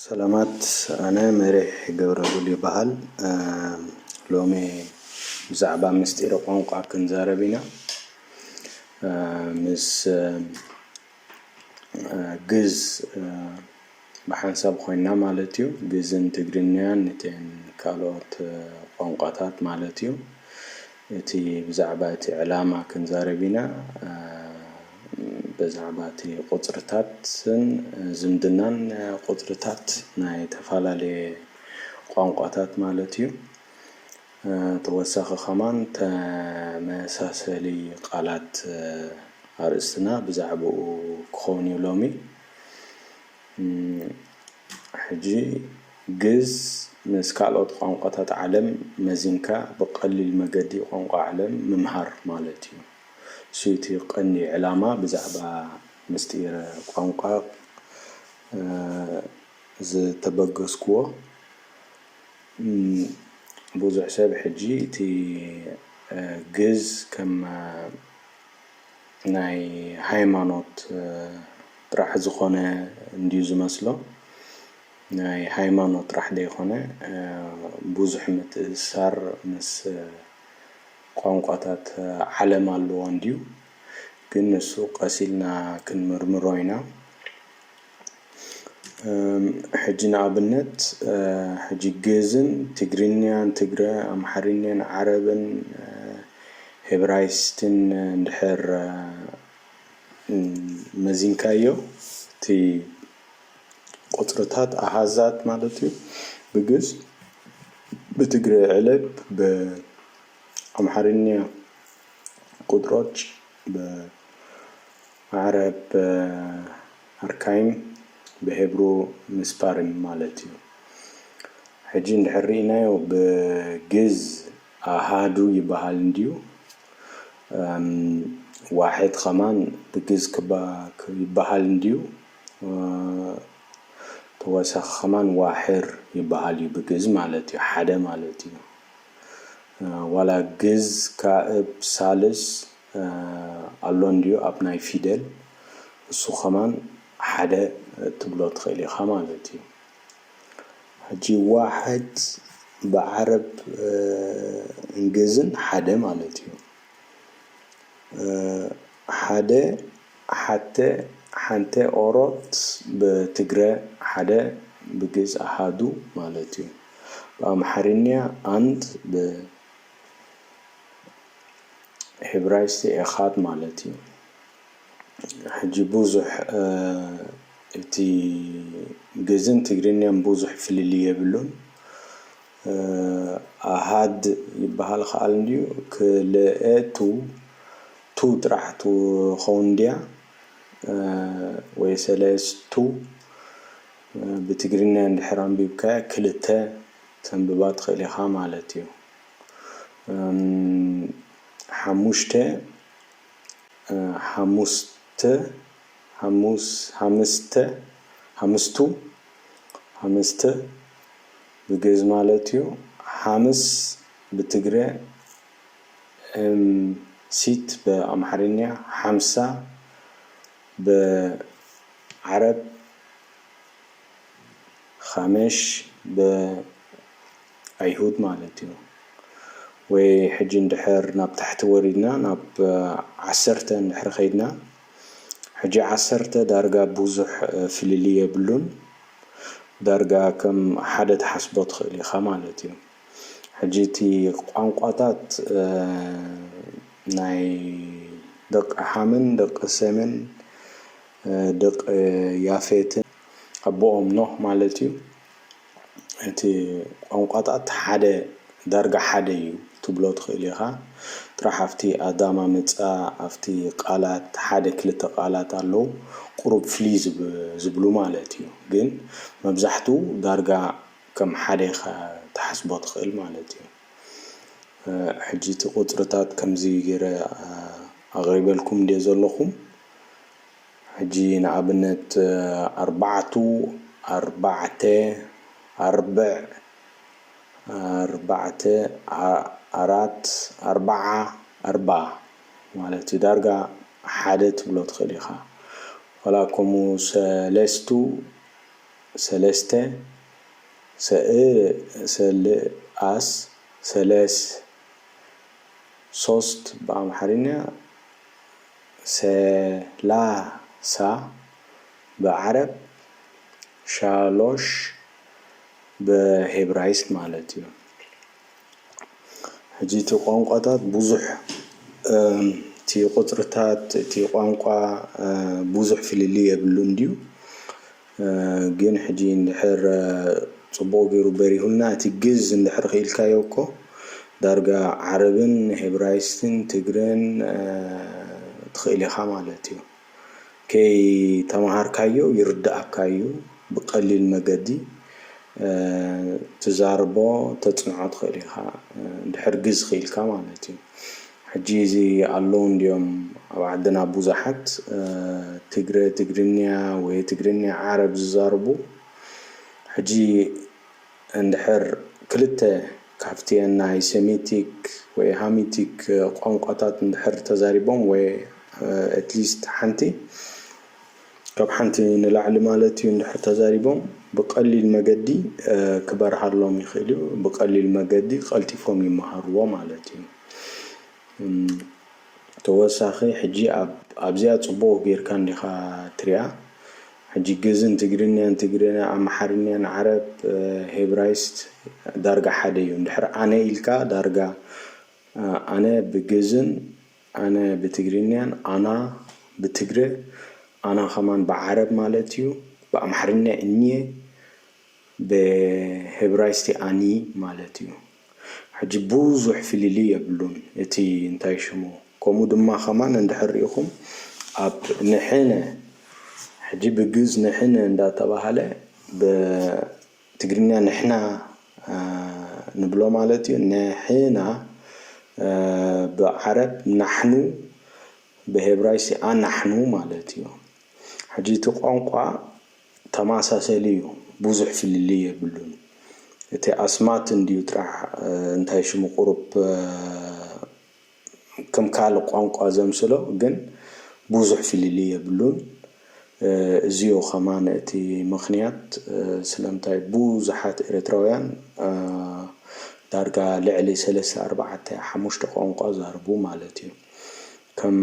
ሰላማት ኣነ መሪሕ ገብረሉል ይባሃል ሎሚ ብዛዕባ ምስጢረ ቋንቋ ክንዛረብ ኢና ምስ ግዝ ብሓንሳብ ኮይና ማለት እዩ ግዝን ትግርኛን እተን ካልኦት ቋንቋታት ማለት እዩ። እቲ ብዛዕባ እቲ ዕላማ ክንዛረብ ኢና በዛዕባ እቲ ቁጽርታትን ዝምድናን ቁጽርታት ናይ ተፋላለየ ቋንቋታት ማለት እዩ ተወሳኺ ከማን ተመሳሰሊ ቃላት ኣርእስትና ብዛዕባኡ ክኾን እዩ ሎሚ። ሕጂ ግእዝ ምስ ካልኦት ቋንቋታት ዓለም መዚንካ ብቐሊል መገዲ ቋንቋ ዓለም ምምሃር ማለት እዩ። እሱ እቲ ቀንዲ ዕላማ ብዛዕባ ምስጢረ ቋንቋ ዝተበገስኩዎ። ብዙሕ ሰብ ሕጂ እቲ ግእዝ ከም ናይ ሃይማኖት ጥራሕ ዝኮነ እንድዩ ዝመስሎ ናይ ሃይማኖት ጥራሕ ደይኮነ ቡዙሕ ምትእስሳር ምስ ቋንቋታት ዓለም ኣለዎ እንድዩ ግን ንሱ ቀስ ኢልና ክንምርምሮ ኢና። ሕጂ ንኣብነት ሕጂ ግእዝን ትግርኛን ትግረ ኣምሓርኛን ዓረብን ሄብራይስትን እንድሕር መዚንካዮ እቲ ቁጽርታት ኣሃዛት ማለት እዩ ብግእዝ ብትግረ ዕለብ ብኣምሓርኛ ቁጥሮች ዓረብ ኣርካይም ብሄብሩ ምስፓርን ማለት እዩ። ሕጂ እንድሕር ርኢናዮ ብ ግእዝ ኣሃዱ ይበሃል እንድዩ እም ዋሕድ ከማን ብ ግእዝ ክባክ ይበሃል እንድዩ ተወሳኪ ከማን ዋሕር ይበሃል እዩ ብ ግእዝ ማለት እዩ ሓደ ማለት እዩ ዋላ ግእዝ ካእብ ሳልስ ኣሎ እንድዩ ኣብ ናይ ፊደል እሱ ከማን ሓደ ትብሎ ትክእል ኢካ ማለት እዩ ሕጂ ዋሕድ ብዓረብ እንግዝን ሓደ ማለት እዩ ሓደ ሓተ ሓንተ ኦሮት ብትግረ ሓደ ብግእዝ ኣሃዱ ማለት እዩ ብኣምሓርኛ ኣንድ ብ ሂብራይስቲ ኤኻድ ማለት እዩ። ሕጂ ብዙሕ እቲ ግእዝን ትግርኛን ብዙሕ ፍልልይ የብሉን። ኣሃድ ይበሃል ክኣል እንድዩ ክልኤ ቱ ቱ ጥራሕ ትኸውን እንድያ ወይ ሰለስቱ ብትግርኛ እንድሕር ኣንቢብካያ ክልተ። ከተንብባ ትኽእል ኢኻ ማለት እዩ። ሓሙሽተ፣ ሓሙስተ፣ ሓሙስ፣ ሓምስተ፣ ሓምስቱ፣ ሓምስተ ብግእዝ ማለት እዩ። ሓምስ ብትግረ፣ ሐምሲት ብኣምሓርኛ፣ ሓምሳ ብዓረብ፣ ኻመሽ ብ ኣይሁድ ማለት እዩ ወይ ሕጂ እንድሕር ናብ ታሕቲ ወሪድና ናብ ዓሰርተ እንድሕር ኸይድና ሕጂ ዓሰርተ ዳርጋ ቡዙሕ ፍልልይ የብሉን ዳርጋ ከም ሓደ ትሓስቦ ትኽእል ኢኻ ማለት እዩ ሕጂ እቲ ቋንቋታት ናይ ደቒ ሓምን ደቒ ሴምን ደቒ ያፌትን ኣቦኦም ኖህ ማለት እዩ። እቲ ቋንቋታት ሓደ ዳርጋ ሓደ እዩ ክትብሎ ትኽእል ኢኻ። ጥራሕ ኣብቲ ኣዳማምጻ ኣብቲ ቃላት ሓደ ክልተ ቃላት ኣለዉ ቁሩብ ፍልይ ዝብሉ ማለት እዩ። ግን መብዛሕትኡ ዳርጋ ከም ሓደ ኢኻ ትሓስቦ ትኽእል ማለት እዩ። ሕጂ እቲ ቁጽርታት ከምዚ ጌረ ኣቕሪበልኩም ድየ ዘለኹ? ሕጂ ንኣብነት ኣርባዕቱ፣ ኣርባዕተ፣ ኣርብዕ፣ ኣርባዕተ፣ ኣራት፣ ኣርባዓ፣ ኣርብኣ ማለት እዩ። ዳርጋ ሓደ ትብሎ ትኽእል ኢኻ። ዋላ ከምኡ ሰለስቱ፣ ሰለስተ፣ ሰልኣስ፣ ሰለስ፣ ሶስት ብኣምሓርኛ፣ ሰላሳ ብዓረብ ሻሎሽ ብሄብራይስጥ ማለት እዩ። ሕጂ እቲ ቋንቋታት ብዙሕ እቲ ቁጽርታት እቲ ቋንቋ ብዙሕ ፍልልይ የብሉን ድዩ? ግን ሕጂ እንድሕር ጽቡቕ ጌሩ በሪሁልና እቲ ግእዝ እንድሕር ክኢልካዮ እኮ ዳርጋ ዓረብን ሄብራይስትን ትግረን ትኽእል ኢኻ ማለት እዩ ከይ ተማሃርካዮ ይርድኣካ እዩ ብቀሊል መገዲ ትዛርቦ ተጽንዖ ትኽእል ኢኻ እንድሕር ግእዝ ክኢልካ ማለት እዩ። ሕጂ እዚ ኣለው እንድዮም ኣብ ዓድና ቡዛሓት ትግረ ትግርንያ ወይ ትግርንያ ዓረብ ዝዛርቡ ሕጂ እንድሕር ክልተ ካብቲኤን ናይ ሰሚቲክ ወይ ሃሚቲክ ቋንቋታት እንድሕር ተዛሪቦም ወይ ኣትሊስት ሓንቲ ካብ ሓንቲ ንላዕሊ ማለት እዩ እንድሕር ተዛሪቦም ብቀሊል መገዲ ክበርሃሎም ይኽእል እዩ። ብቀሊል መገዲ ቀልጢፎም ይመሃርዎ ማለት እዩ። ተወሳኺ ሕጂ ኣብዚኣ ጽቡቕ ጌርካ እንዲኻ ትሪኣ ሕጂ ግእዝን ትግርኛን ትግርኛ ኣምሓርኛን ዓረብ ሄብራይስት ዳርጋ ሓደ እዩ። እንድሕር ኣነ ኢልካ ዳርጋ ኣነ ብግእዝን ኣነ ብትግርኛን ኣና ብትግረ ኣና ከማን ብዓረብ ማለት እዩ ብኣምሓርኛ እኘ ብህብራይስቲ ኣኒ ማለት እዩ ሕጂ ቡዙሕ ፍልልይ የብሉን እቲ እንታይ ሽሙ ከምኡ ድማ ከማን እንድሕር ሪኢኩም ኣብ ንሕነ ሕጂ ብግእዝ ንሕነ እንዳተባሃለ ብ ትግርኛ ንሕና ንብሎ ማለት እዩ ንሕና ብዓረብ ናሕኑ ብሄብራይሲ ኣናሕኑ ማለት እዩ ሕጂ እቲ ቋንቋ ተማሳሰሊ እዩ ቡዙሕ ፍልልይ የብሉን እቲ ኣስማት እንድዩ ጥራሕ እንታይ ሽሙ ቁሩብ ከም ካልእ ቋንቋ ዘምስሎ ግን ቡዙሕ ፍልልይ የብሉን እዚዮ ከማን እቲ ምክንያት ስለምንታይ ቡዙሓት ኤረትራውያን ዳርጋ ልዕሊ ሰለስተ ኣርባዓተ ሓሙሽተ ቋንቋ ዛርቡ ማለት እዩ ከም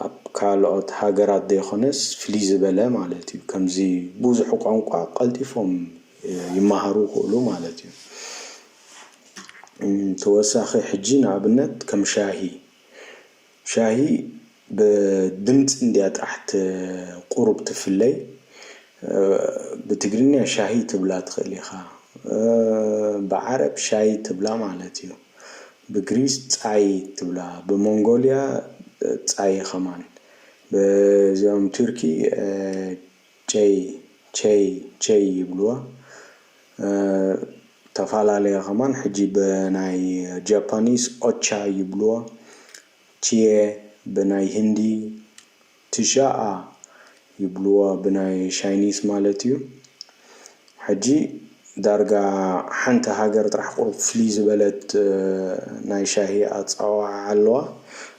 ኣብ ካልኦት ሃገራት ደይኮነስ ፍልይ ዝበለ ማለት እዩ ከምዚ ቡዙሕ ቋንቋ ቀልጢፎም ይማሃሩ ይክእሉ ማለት እዩ። ተወሳኺ ሕጂ ንኣብነት ከም ሻሂ ሻሂ ብድምጽ እንድያ ጥራሕ ት ቁሩብ ትፍለይ ብትግርኛ ሻሂ ትብላ ትኽእል ኢኻ ብዓረብ ሻይ ትብላ ማለት እዩ ብግሪስ ጻይ ትብላ ብሞንጎልያ ጻይ ኸማን ብዞም ቱርኪ ቸይ ቸይ ቸይ ይብልዋ ተፋላለያ ከማን ሕጂ ብናይ ጃፓኒስ ኦቻ ይብልዋ ችየ ብናይ ህንዲ ትሻኣ ይብልዋ ብናይ ሻይኒስ ማለት እዩ ሕጂ ዳርጋ ሓንቲ ሃገር ጥራሕ ቁሩብ ፍልይ ዝበለት ናይ ሻሂ ኣጸዋውዓ ኣለዋ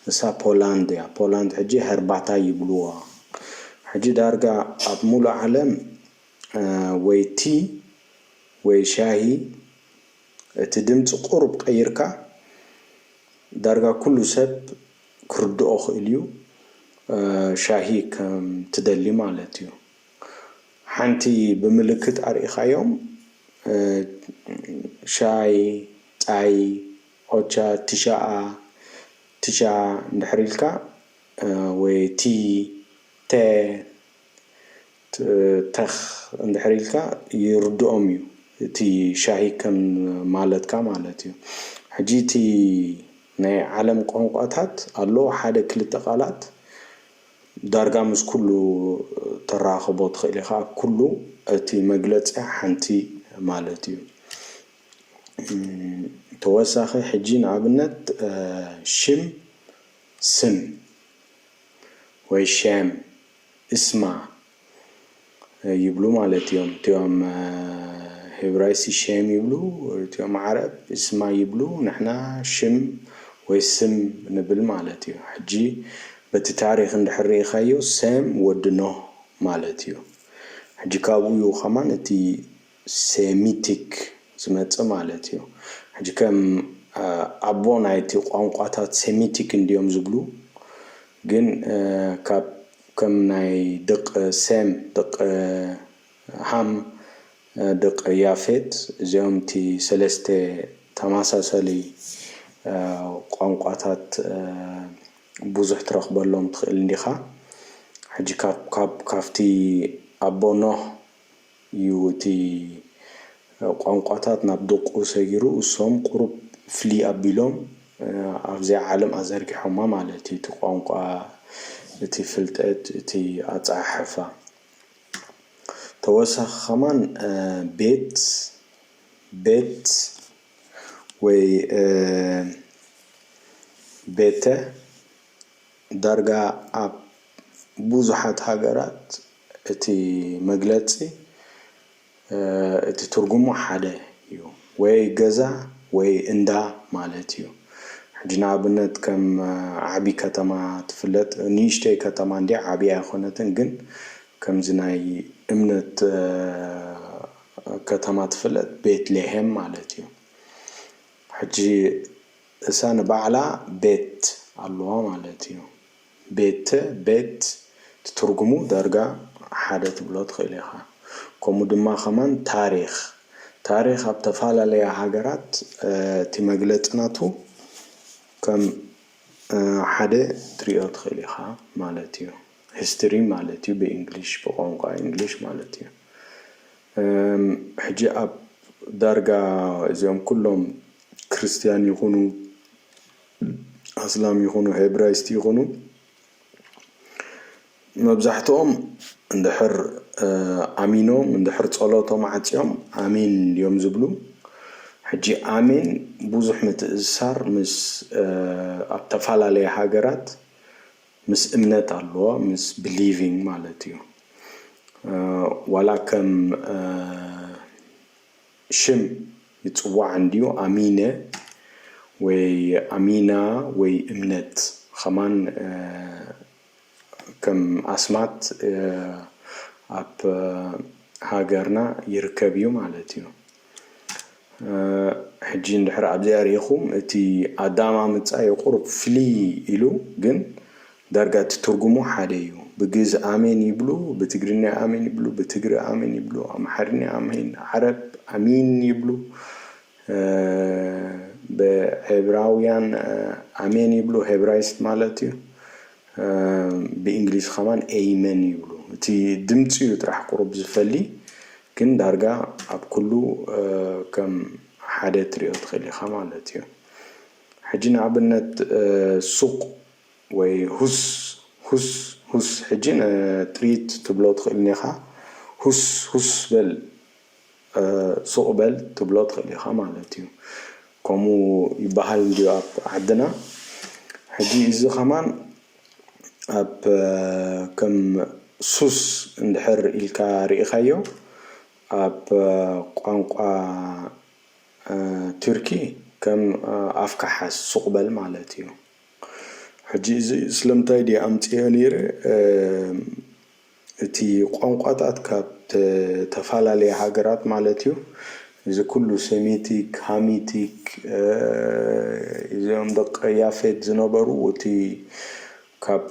ንሳ ፖላንድ እያ ፖላንድ ሕጂ ሀርባታይ ይብልዋ ሕጂ ዳርጋ ኣብ ሙሉእ ዓለም ወይ ቲ ወይ ሻሂ እቲ ድምጺ ቁሩብ ቀይርካ ዳርጋ ኩሉ ሰብ ክርድኦ ክእልዩ ሻሂ ከም ትደሊ ማለት እዩ። ሓንቲ ብምልክት ኣርኢኻዮም ሻይ ፃይ ኦቻ ቲሻኣ ቲቻ እንድሕር ኢልካ ወይ ቲ ተ ተኽ እንድሕር ኢልካ ይርድኦም እዩ እቲ ሻሂ ከም ማለትካ ማለት እዩ ሕጂ እቲ ናይ ዓለም ቋንቋታት ኣሎ ሓደ ክልተ ቃላት ዳርጋ ምስ ኩሉ ተራኽቦ ትኽእል ኢኻ ኩሉ እቲ መግለጺ ሓንቲ ማለት እዩ ተወሳኺ ሕጂ ንኣብነት ሽም ስም ወይ ሸም እስማ ይብሉ ማለት እዮም እቲኦም ሄብራይሲ ሼም ይብሉ እቲኦም ዓረብ ስማ ይብሉ ንሕና ሽም ወይ ስም ንብል ማለት እዩ ሕጂ በቲ ታሪክ እንድሕር ርኢካዮ ሴም ወዲ ኖህ ማለት እዩ ሕጂ ካብኡ እዩ ከማን እቲ ሴሚቲክ ዝመጽእ ማለት እዩ። ሕጂ ከም ኣቦ ናይቲ ቋንቋታት ሴሚቲክ እንድዮም ዝብሉ ግን ካብ ከም ናይ ድቅ ሴም ድቅ ሃም ድቅ ያፌት እዚኦም እቲ ሰለስተ ተማሳሰሊ ቋንቋታት ቡዙሕ ትረክበሎም ትክእል እንዲካ ሕጂ ካብ ካብቲ ኣቦ ኖህ ዩ እቲ ቋንቋታት ናብ ደቁ ሰጊሩ እሶም ቁሩብ ፍልይ ኣቢሎም ኣብዚኣ ዓለም ኣዘርጊሖማ ማለት ዩ እቲ ቋንቋ እቲ ፍልጠት እቲ ኣጸሓሕፋ ተወሳኺ ከማን ቤት ቤት ወይ ቤተ ዳርጋ ኣብ ቡዙሓት ሃገራት እቲ መግለጺ እቲ ትርጉሙ ሓደ ዩ ወይ ገዛ ወይ እንዳ ማለት ዩ ሕጂ ንኣብነት ከም ዓቢ ከተማ ትፍለጥ ንእሽተይ ከተማ እንድያ ዓቢ ኣይኮነትን ግን ከምዚ ናይ እምነት ከተማ ትፍለጥ ቤት ሌሄም ማለት ዩ ሕጂ እሳ ንባዕላ ቤት ኣለዋ ማለት ዩ። ቤተ፣ ቤት፣ ትትርጉሙ ዳርጋ ሓደ ትብሎ ትክእል ኢካ ከምኡ ድማ ከማን ታሪክ ታሪክ ኣብ ተፋላለያ ሃገራት እቲ መግለጺ ናቱ ከም ሓደ ክትሪኦ ትክእል ኢካ ማለት እዩ history ማለት እዩ ብእንግሊሽ ብቋንቋ እንግሊሽ ማለት እዩ ሕጂ ኣብ ዳርጋ እዚኦም ኩሎም ክርስትያን ይኩኑ ኣስላም ይኹኑ ሄብራይስት ይኹኑ መብዛሕትኦም እንድሕር ኣሚኖም እንድሕር ጸሎቶም ዓጽዮም ኣሜን እንድዮም ዝብሉ ሕጂ ኣሜን ብዙሕ ምትእስሳር ምስ ኣብ ተፈላለየ ሃገራት ምስ እምነት ኣለዎ ምስ ብሊቪንግ ማለት እዩ ዋላ ከም ሽም ይጽዋዕ እንድዩ ኣሚነ ወይ ኣሚና ወይ እምነት ኸማን ከም ኣስማት ኣብ ሃገርና ይርከብ እዩ ማለት እዩ ሕጂ እንድሕር ኣብዚኣ ሪኢኹም እቲ ኣዳማምጻ እዩ ቁሩብ ፍልይ ኢሉ ግን ዳርጋ እቲ ትርጉሙ ሓደ እዩ ብግእዝ ኣሜን ይብሉ ብትግርኛ ኣሜን ይብሉ ብትግረ ኣሜን ይብሉ ኣምሓርኛ ኣሜን ዓረብ ኣሚን ይብሉ ብዔብራውያን ኣሜን ይብሉ ሄብራይስጥ ማለት እዩ ብእንግሊዝ ከማን ኤይመን ይብሉ እቲ ድምጺ እዩ ጥራሕ ቁሩብ ዝፈሊ ግን ዳርጋ ኣብ ኩሉ ከም ሓደ ትሪኦ ትክእል ኢካ ማለት እዩ ሕጂ ንኣብነት ሱቅ ወይ ሁስ ሁስ ሁስ ሕጂ ን ትሪት ትብሎ ትክእል ኢካ ሁስ ሁስ በል ሱቅ በል ትብሎ ትክእል ኢካ ማለት እዩ ከምኡ ይባሃል እንድዩ ኣብ ዓድና ሕጂ እዚ ከማን ኣብ ከም ሱስ እንድሕር ኢልካ ሪኢካዮ ኣብ ቋንቋ ቱርኪ ከም ኣፍካ ሓዝ ሱቅ በል ማለት እዩ። ሕጂ እዚ ስለምንታይ ድየ ኣምጺኤዮ ነይረ እቲ ቋንቋታት ካብ ተተፋላለያ ሃገራት ማለት እዩ እዚ ኩሉ ሰሚቲክ ሃሚቲክ እዚኦም ደቂ ያፌት ዝነበሩ እቲ ካብ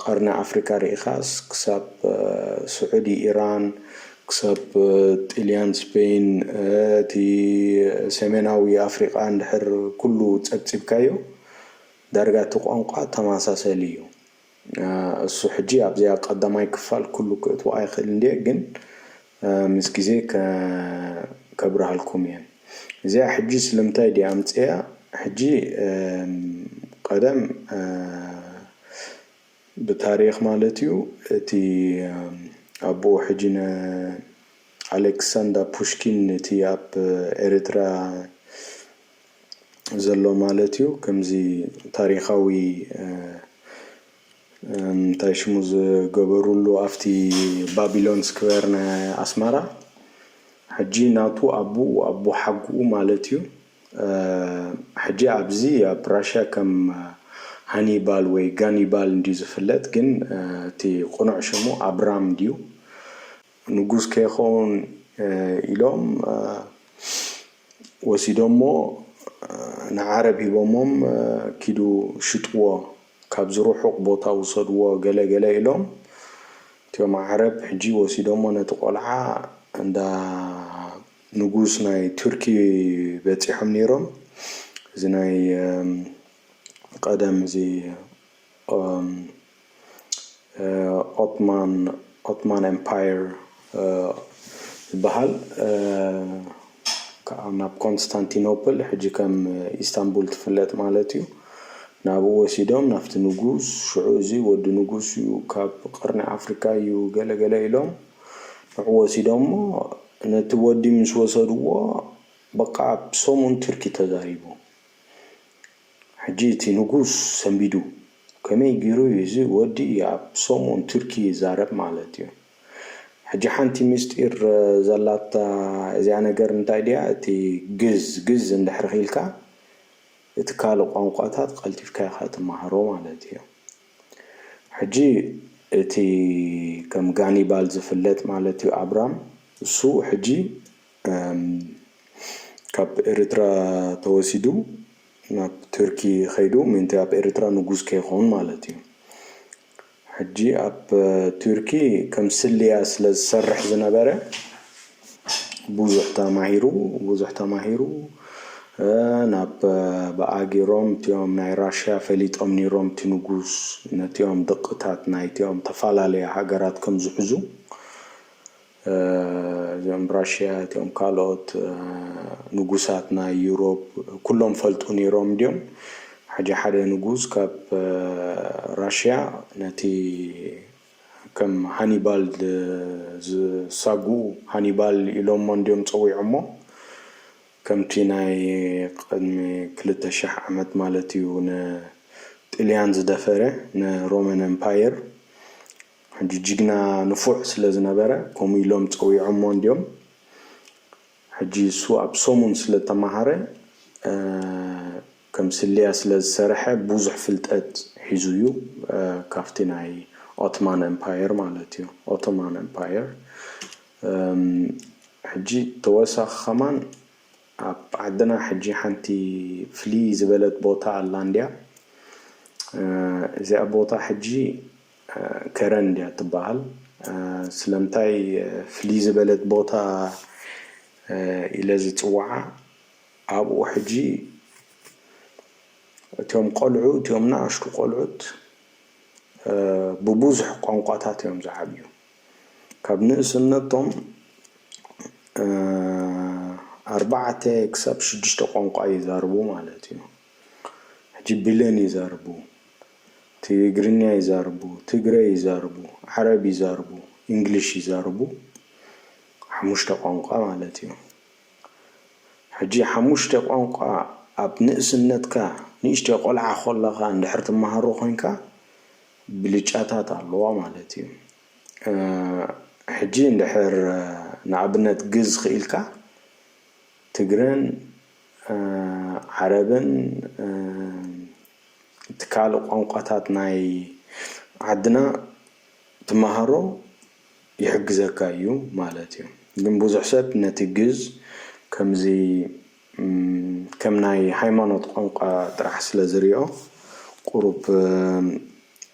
ቀርኒ ኣፍሪቃ ርኢኻስ ክሳብ ስዑዲ ኢራን ክሳብ ጥልያን ስፐይን እቲ ሰሜናዊ ኣፍሪቓ እንድሕር ኩሉ ጸብጺብካዮ ዳርጋ እቲ ቋንቋ ተማሳሰሊ እዩ እሱ ሕጂ ኣብዚኣ ቀዳማይ ክፋል ኩሉ ክእትዎ ኣይክእልን ድየ ግን ምስ ግዜ ከብርሃልኩም እየ እዚኣ ሕጂ ስለምንታይ ድየ ኣምጺኣ ሕጂ ቀደም ብታሪኽ ማለት እዩ እቲ ኣቡኡ ሕጂ ን ኣሌክሳንዳ ፑሽኪን እቲ ኣብ ኤሪትራ ዘሎ ማለት እዩ ከምዚ ታሪኻዊ እንታይ ሽሙ ዝገበሩሉ ኣፍቲ ባቢሎን ስክዌር ናይ ኣስመራ ሕጂ ናቱ ኣቡኡ ኣቦሓጉኡ ማለት እዩ ሕጂ ኣብዚ ኣብ ራሽያ ከም ሃኒባል ወይ ጋኒባል እንድዩ ዝፍለጥ ግን እቲ ቁኑዕ ሽሙ ኣብራም እንድዩ ንጉስ ከይከውን ኢሎም ወሲዶሞ ንዓረብ ሂቦሞም ኪዱ ሽጥዎ ካብዚ ሩሑቅ ቦታ ውሰድዎ ገለ ገለ ኢሎም እትዮም ዓረብ ሕጂ ወሲዶሞ ነቲ ቆልዓ እንዳ ንጉስ ናይ ቱርኪ በጺሖም ኔሮም እዚ ናይ ቀደም እዚ ኦትማን ኦትማን ኤምፓየር ዝበሃል ክኣ ናብ ኮንስታንቲኖፕል ሕጂ ከም ኢስታንቡል ትፍለጥ ማለት እዩ ናብኡ ወሲዶም ናብቲ ንጉስ ሽዑ እዚ ወዲ ንጉስ እዩ ካብ ቅርኒ ኣፍሪካ እዩ ገለ ገለ ኢሎም ንዑ ወሲዶሞ ነቲ ወዲ ምስ ወሰድዎ በቓ ኣብ ሰሙን ቱርኪ ተዛሪቡ። ሕጂ እቲ ንጉስ ሰንቢዱ ከመይ ጌሩ እዩ እዚ ወዲ ኣብ ሰሙን ቱርኪ ይዛረብ ማለት እዩ። ሕጂ ሓንቲ ምስጢር ዘላታ እዚኣ ነገር እንታይ ድያ እቲ ግዝ ግዝ እንድሕሪ ኺኢልካ እቲ ካልእ ቋንቋታት ቐልጢፍካ ኢኻ ትማሃሮ ማለት እዩ። ሕጂ እቲ ከም ጋኒባል ዝፍለጥ ማለት እዩ ኣብራም እሱ ሕጂ ካብ ኤርትራ ተወሲዱ ናብ ቱርኪ ከይዱ ምእንቲ ኣብ ኤርትራ ንጉስ ከይከውን ማለት እዩ ሕጂ ኣብ ቱርኪ ከም ስልያ ስለ ዝሰርሕ ዝነበረ ብዙሕ ተማሂሩ ብዙሕ ተማሂሩ ናብ ብኣጊሮም እቲኦም ናይ ራሽያ ፈሊጦም ኒሮም እቲ ንጉስ ነቲኦም ድቕታት ናይቲኦም ተፈላለየ ሃገራት ከም ዝሕዙ እዚኦም ራሽያ እቲኦም ካልኦት ንጉሳት ናይ ዩሮብ ኩሎም ፈልጡ ኒሮም ድዮም ሓጂ ሓደ ንጉስ ካብ ራሽያ ነቲ ከም ሃኒባል ዝሳጉ ሃኒባል ኢሎሞ እንድዮም ጸዊዖሞ ከምቲ ናይ ቅድሚ ክልተ ሽሕ ዓመት ማለት እዩ ን ጥልያን ዝደፈረ ን ሮመን ኤምፓየር ሕጂ ጅግና ንፉዕ ስለ ዝነበረ ከምኡ ኢሎም ጸዊዖሞ እንድዮም ሕጂ እሱ ኣብ ሰሙን ስለ ተማሃረ ከም ስለያ ስለ ዝሰረሐ ቡዙሕ ፍልጠት ሒዙ እዩ ካብቲ ናይ ኦትማን ኤምፓየር ማለት እዩ ኦቶማን ኤምፓየር ሕጂ ተወሳኪ ከማን ኣብ ዓድና ሕጂ ሓንቲ ፍልይ ዝበለት ቦታ ኣላ እንድያ እዚኣ ቦታ ሕጂ ከረን እንድያ ትባሃል ስለምንታይ ፍልይ ዝበለት ቦታ ኢለ ዝጽዋዓ ኣብኡ ሕጂ እቶም ቆልዑ እቲኦም ናኣሽቱ ቆልዑት ብቡዙሕ ቋንቋታት እዮም ዝዓብዩ ካብ ንእስነቶም ኣርባዕተ ክሳብ ሽዱሽተ ቋንቋ ይዛርቡ ማለት እዩ ሕጂ ብሌን ይዛርቡ ትግርኛ ይዛርቡ ትግረ ይዛርቡ ዓረብ ይዛርቡ ኢንግሊሽ ይዛርቡ ሓሙሽተ ቋንቋ ማለት እዩ። ሕጂ ሓሙሽተ ቋንቋ ኣብ ንእስነትካ ንእሽተይ ቆልዓ ኮለኻ እንድሕር ትማሃሮ ኮንካ ብልጫታት ኣለዋ ማለት እዩ ሕጂ እንድሕር ንኣብነት ግእዝ ኪኢልካ ትግረን ዓረብን እቲ ካልእ ቋንቋታት ናይ ዓድና ትማሃሮ ይሕግዘካ እዩ ማለት እዩ ግን ቡዙሕ ሰብ ነቲ ግእዝ ከምዚ ከም ናይ ሃይማኖት ቋንቋ ጥራሕ ስለ ዝሪኦ ቁሩብ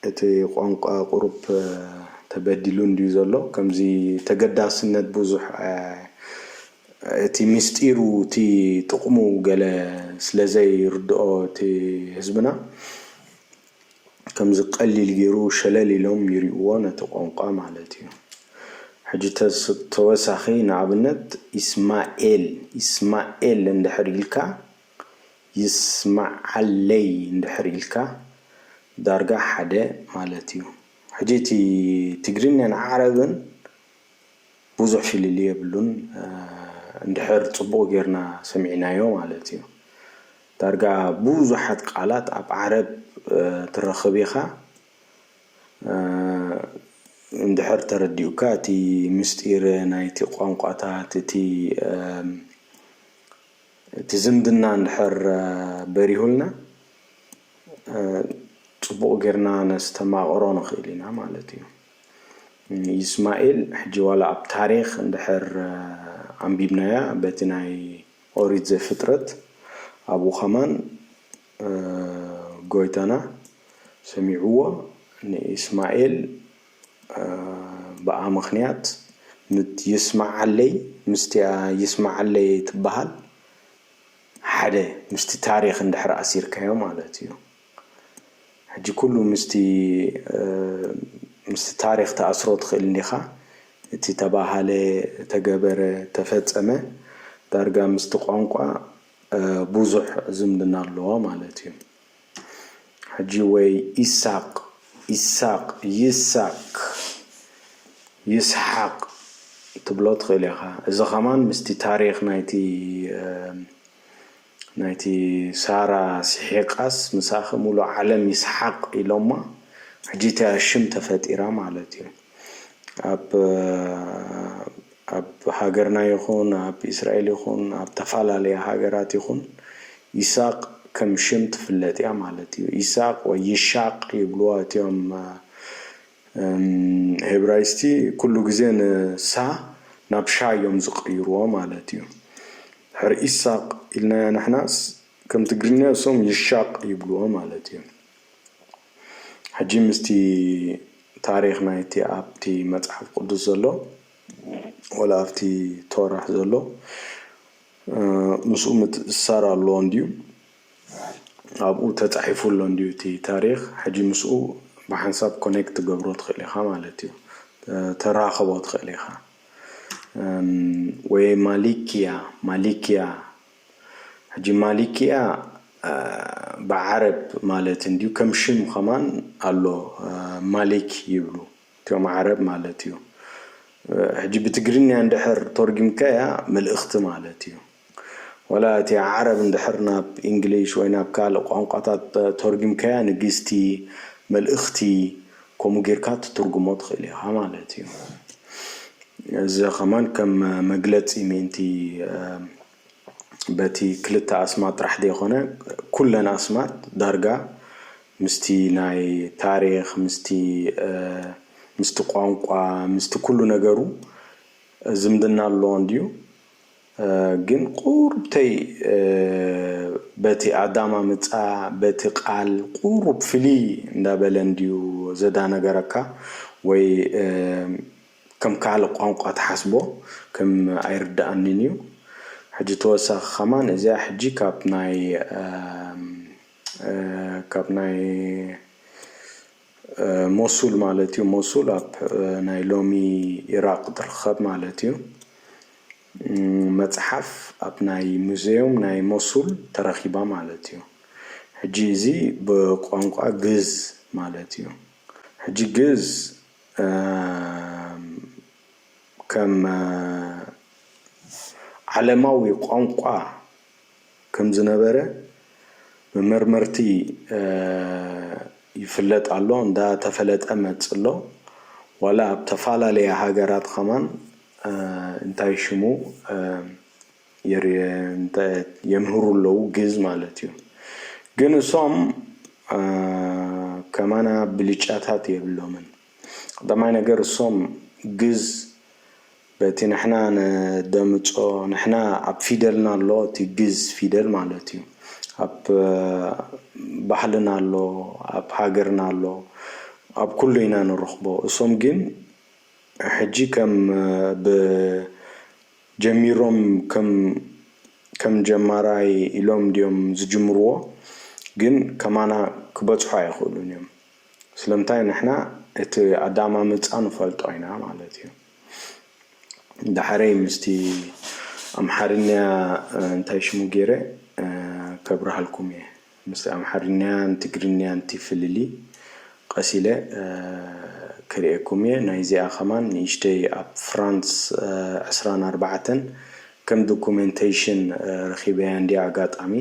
እቲ ቋንቋ ቁሩብ ተበዲሉ እንድዩ ዘሎ ከምዚ ተገዳስነት ቡዙሕ እቲ ምስጢሩ እቲ ጥቅሙ ገለ ስለ ዘይርድኦ እቲ ህዝብና ከምዚ ቀሊል ጌሩ ሸለል ኢሎም ይሪኡዎ ነቲ ቋንቋ ማለት እዩ ሕጂ ተወሳኺ ንኣብነት ኢስማኤል ኢስማኤል እንድሕር ኢልካ ይስማዓለይ እንድሕር ኢልካ ዳርጋ ሓደ ማለት እዩ ሕጂ እቲ ትግርኛን ዓረብን ብዙሕ ፍልልይ የብሉን እንድሕር ጽቡቕ ጌርና ሰሚዕናዮ ማለት እዩ። ዳርጋ ቡዙሓት ቃላት ኣብ ዓረብ ትረኽብ ኢኻ እንድሕር ተረዲኡካ እቲ ምስጢር ናይቲ ቋንቋታት እቲ እቲ ዝምድና እንድሕር በሪሁልና ጽቡቕ ጌርና ነስተማቕሮ ንኽእል ኢና ማለት እዩ። ይስማኤል ሕጂ ዋላ ኣብ ታሪኽ እንድሕር ኣንቢብናያ በቲ ናይ ኦሪት ዘፍጥረት ኣብኡ ከማን ጎይታና ሰሚዕዎ ንእስማኤል ብኣ ምክንያት ምት ይስማዓለይ ምስቲኣ ይስማዓለይ ትባሃል ሓደ ምስቲ ታሪክ እንድሕር ኣሲርካዮ ማለት እዩ። ሕጂ ኩሉ ምስቲ ምስቲ ታሪኽ ትኣስሮ ትኽእል እንዲኻ እቲ ተባሃለ ተገበረ ተፈጸመ ዳርጋ ምስቲ ቋንቋ ቡዙሕ ዝምድና ኣለዎ ማለት እዩ ሕጂ ወይ ኢሳቅ ኢሳቅ ይሳክ ይስሓቅ ትብሎ ትኽእል ኢኻ እዚ ከማን ምስቲ ታሪኽ ናይቲ ናይቲ ሳራ ሲሒቃስ ምሳኺ ሙሉእ ዓለም ይስሓቅ ኢሎማ ሕጂ እቲኣ ሽም ተፈጢራ ማለት እዩ ኣብ ኣብ ሃገርና ይኹን ኣብ ኢስራኤል ይኹን ኣብ ተፋላለየ ሃገራት ይኹን ይሳቅ ከም ሽም ትፍለጥ እያ ማለት እዩ ኢሳቅ ወይ ይሻቅ ይብልዋ እቲኦም ሄብራይስቲ ኩሉ ግዜ ን ሳ ናብ ሻ እዮም ዝቅይርዎ ማለት እዩ። ሕርኢስ ሳቅ ኢልናያ ንሕናስ ከም ትግርኛ እሶም ይሻቅ ይብልዎ ማለት እዩ ሕጂ ምስቲ ታሪክ ናይቲ ኣብቲ መጽሓፍ ቅዱስ ዘሎ ወላ ኣብቲ ቶራህ ዘሎ ምስኡ ምትእስሳር ኣለዎ እንድዩ ኣብኡ ተጻሒፉ ኣሎ እንድዩ እቲ ታሪክ ሕጂ ምስኡ ብሓንሳብ ኮኔክት ትገብሮ ትክእል ኢካ ማለት እዩ ተራክቦ ትክእል ኢካ። ወይ ማሊክያ ማሊክያ ሕጂ ማሊክያ ብዓረብ ማለት እንድዩ ከም ሽም ከማን ኣሎ ማሊክ ይብሉ እትዮም ዓረብ ማለት እዩ ሕጂ ብትግርኛ እንድሕር ቶርጊምካያ መልእክቲ ማለት እዩ። ወላ እቲ ዓረብ እንድሕር ናብ ኢንግሊሽ ወይ ናብ ካልእ ቋንቋታት ቶርጊምካያ ንግስቲ፣ መልእኽቲ፣ ከምኡ ጊርካ ትትርጉሞ ትኽእል ኢኻ ማለት እዩ። እዚ ከማን ከም መግለጺ ምእንቲ በቲ ክልተ ኣስማት ጥራሕ ዘይኮነ ኩለን ኣስማት ዳርጋ ምስቲ ናይ ታሪኽ ምስቲ ምስቲ ቋንቋ ምስቲ ኩሉ ነገሩ ዝምድና ኣለዎን ድዩ? ግን ቁሩብተይ በቲ ኣዳማምጻ በቲ ቃል ቁሩብ ፍልይ እንዳበለ እንድዩ ዘዳነገረካ ወይ ከም ካልእ ቋንቋ ትሓስቦ ከም ኣይርደኣንን እዩ ሕጂ ተወሳኺ ከማን እዚኣ ሕጂ ካብ ናይ ካብ ናይ ሞሱል ማለት እዩ። ሞሱል ኣብ ናይ ሎሚ ኢራቕ ትርኸብ ማለት እዩ። መጽሓፍ ኣብ ናይ ሙዘዩም ናይ ሞሱል ተረኺባ ማለት እዩ። ሕጂ እዚ ብቋንቋ ግእዝ ማለት እዩ። ሕጂ ግእዝ ከም ዓለማዊ ቋንቋ ከምዝነበረ ብመርመርቲ ይፍለጥ ኣሎ እንዳ ተፈለጠ መጽሎ ዋላ ኣብ ተፋላለያ ሃገራት ኸማን እንታይ ሽሙ የምህሩ ኣለዉ ግእዝ ማለት እዩ ግን እሶም ከማና ብልጫታት የብሎምን። ቀዳማይ ነገር እሶም ግዝ በቲ ንሕና ነደምጾ ንሕና ኣብ ፊደልና ኣሎ እቲ ግዝ ፊደል ማለት እዩ ኣብ ባህልና ኣሎ ኣብ ሃገርና ኣሎ ኣብ ኩሉ ኢና ንረኽቦ እሶም ግን ሕጂ ከም ብ ጀሚሮም ከም ከም ጀማራይ ኢሎም ድዮም ዝጅምርዎ ግን ከማና ክበጽሑ ኣይኽእሉን እዮም። ስለምንታይ ንሕና እቲ ኣዳማምጻ ንፈልጦ ኢና ማለት እዩ ዳሕረይ ምስቲ ኣምሓርኛ እንታይ ሽሙ ጌረ ከብርሃልኩም እየ ምስቲ ኣምሓርኛን ትግርኛን እቲ ፍልሊ ቐስ ኢለ ከርእየኩም እየ ናይዚኣ ከማን ንእሽተይ ኣብ ፍራንስ ዕስራን ኣርባዕተን ከም ዶኩመንተይሽን ረኺበያ እንድየ ኣጋጣሚ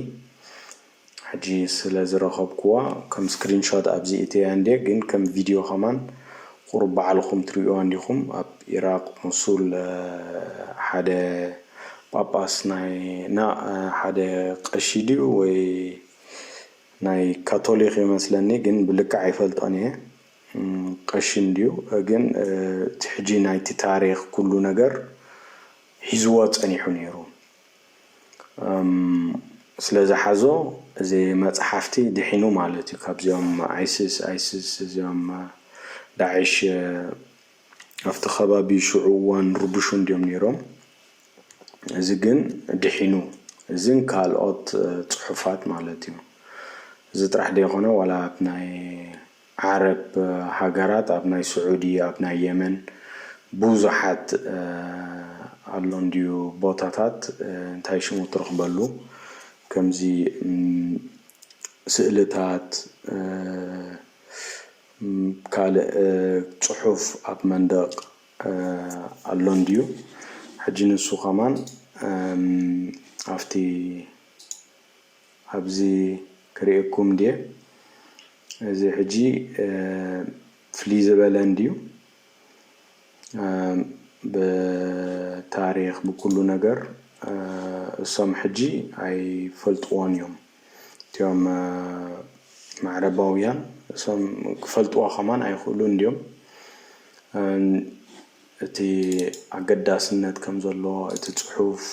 ሕጂ ስለ ዝረከብኩዋ ከም ስክሪን ሾት ኣብዚ እእትያ እንድየ ግን ከም ቪድዮ ከማን ቁሩብ ባዕልኩም ትርእዩዋ እንዲኩም ኣብ ኢራቅ ሙሱል ሓደ ጳጳስ ናይ ናእ ሓደ ቀሺ ድዩ ወይ ናይ ካቶሊክ ይመስለኒ ግን ብልክዕ ኣይፈልጦን እየ ቀሺ እንድዩ ግን እቲ ሕጂ ናይቲ ታሪክ ኩሉ ነገር ሒዝዎ ጸኒሑ ኔሩ ስለ ዝሓዞ እዚ መጽሓፍቲ ድሒኑ ማለት እዩ ካብዚኦም ኣይስስ ኣይስስ እዚኦም ዳዕሽ ኣብቲ ከባቢ ሽዑ እዋን ርቡሹ እንድዮም ነይሮም እዚ ግን ድሒኑ እዝን ካልኦት ጽሑፋት ማለት እዩ እዚ ጥራሕ ደይኮነ ዋላ ናይ ዓረብ ሃገራት ኣብ ናይ ስዑዲ ኣብ ናይ የመን ቡዙሓት ኣሎ እንድዩ ቦታታት እንታይ ሽሙ ትረኽበሉ ከምዚ ስእልታት ካልእ ጽሑፍ ኣብ መንደቕ ኣሎ እንድዩ ሕጂ ንሱ ከማን ኣፍቲ ኣብዚ ክሪኤኩም ድየ እዚ ሕጂ ፍልይ ዝበለ እንድዩ ብታሪኽ ብኩሉ ነገር እሶም ሕጂ ኣይፈልጥዎን እዮም እትዮም ማዕረባውያን እሶም ክፈልጥዎ ከማን ኣይክእሉን ድዮም እቲ ኣገዳስነት ከምዘሎ እቲ ጽሑፍ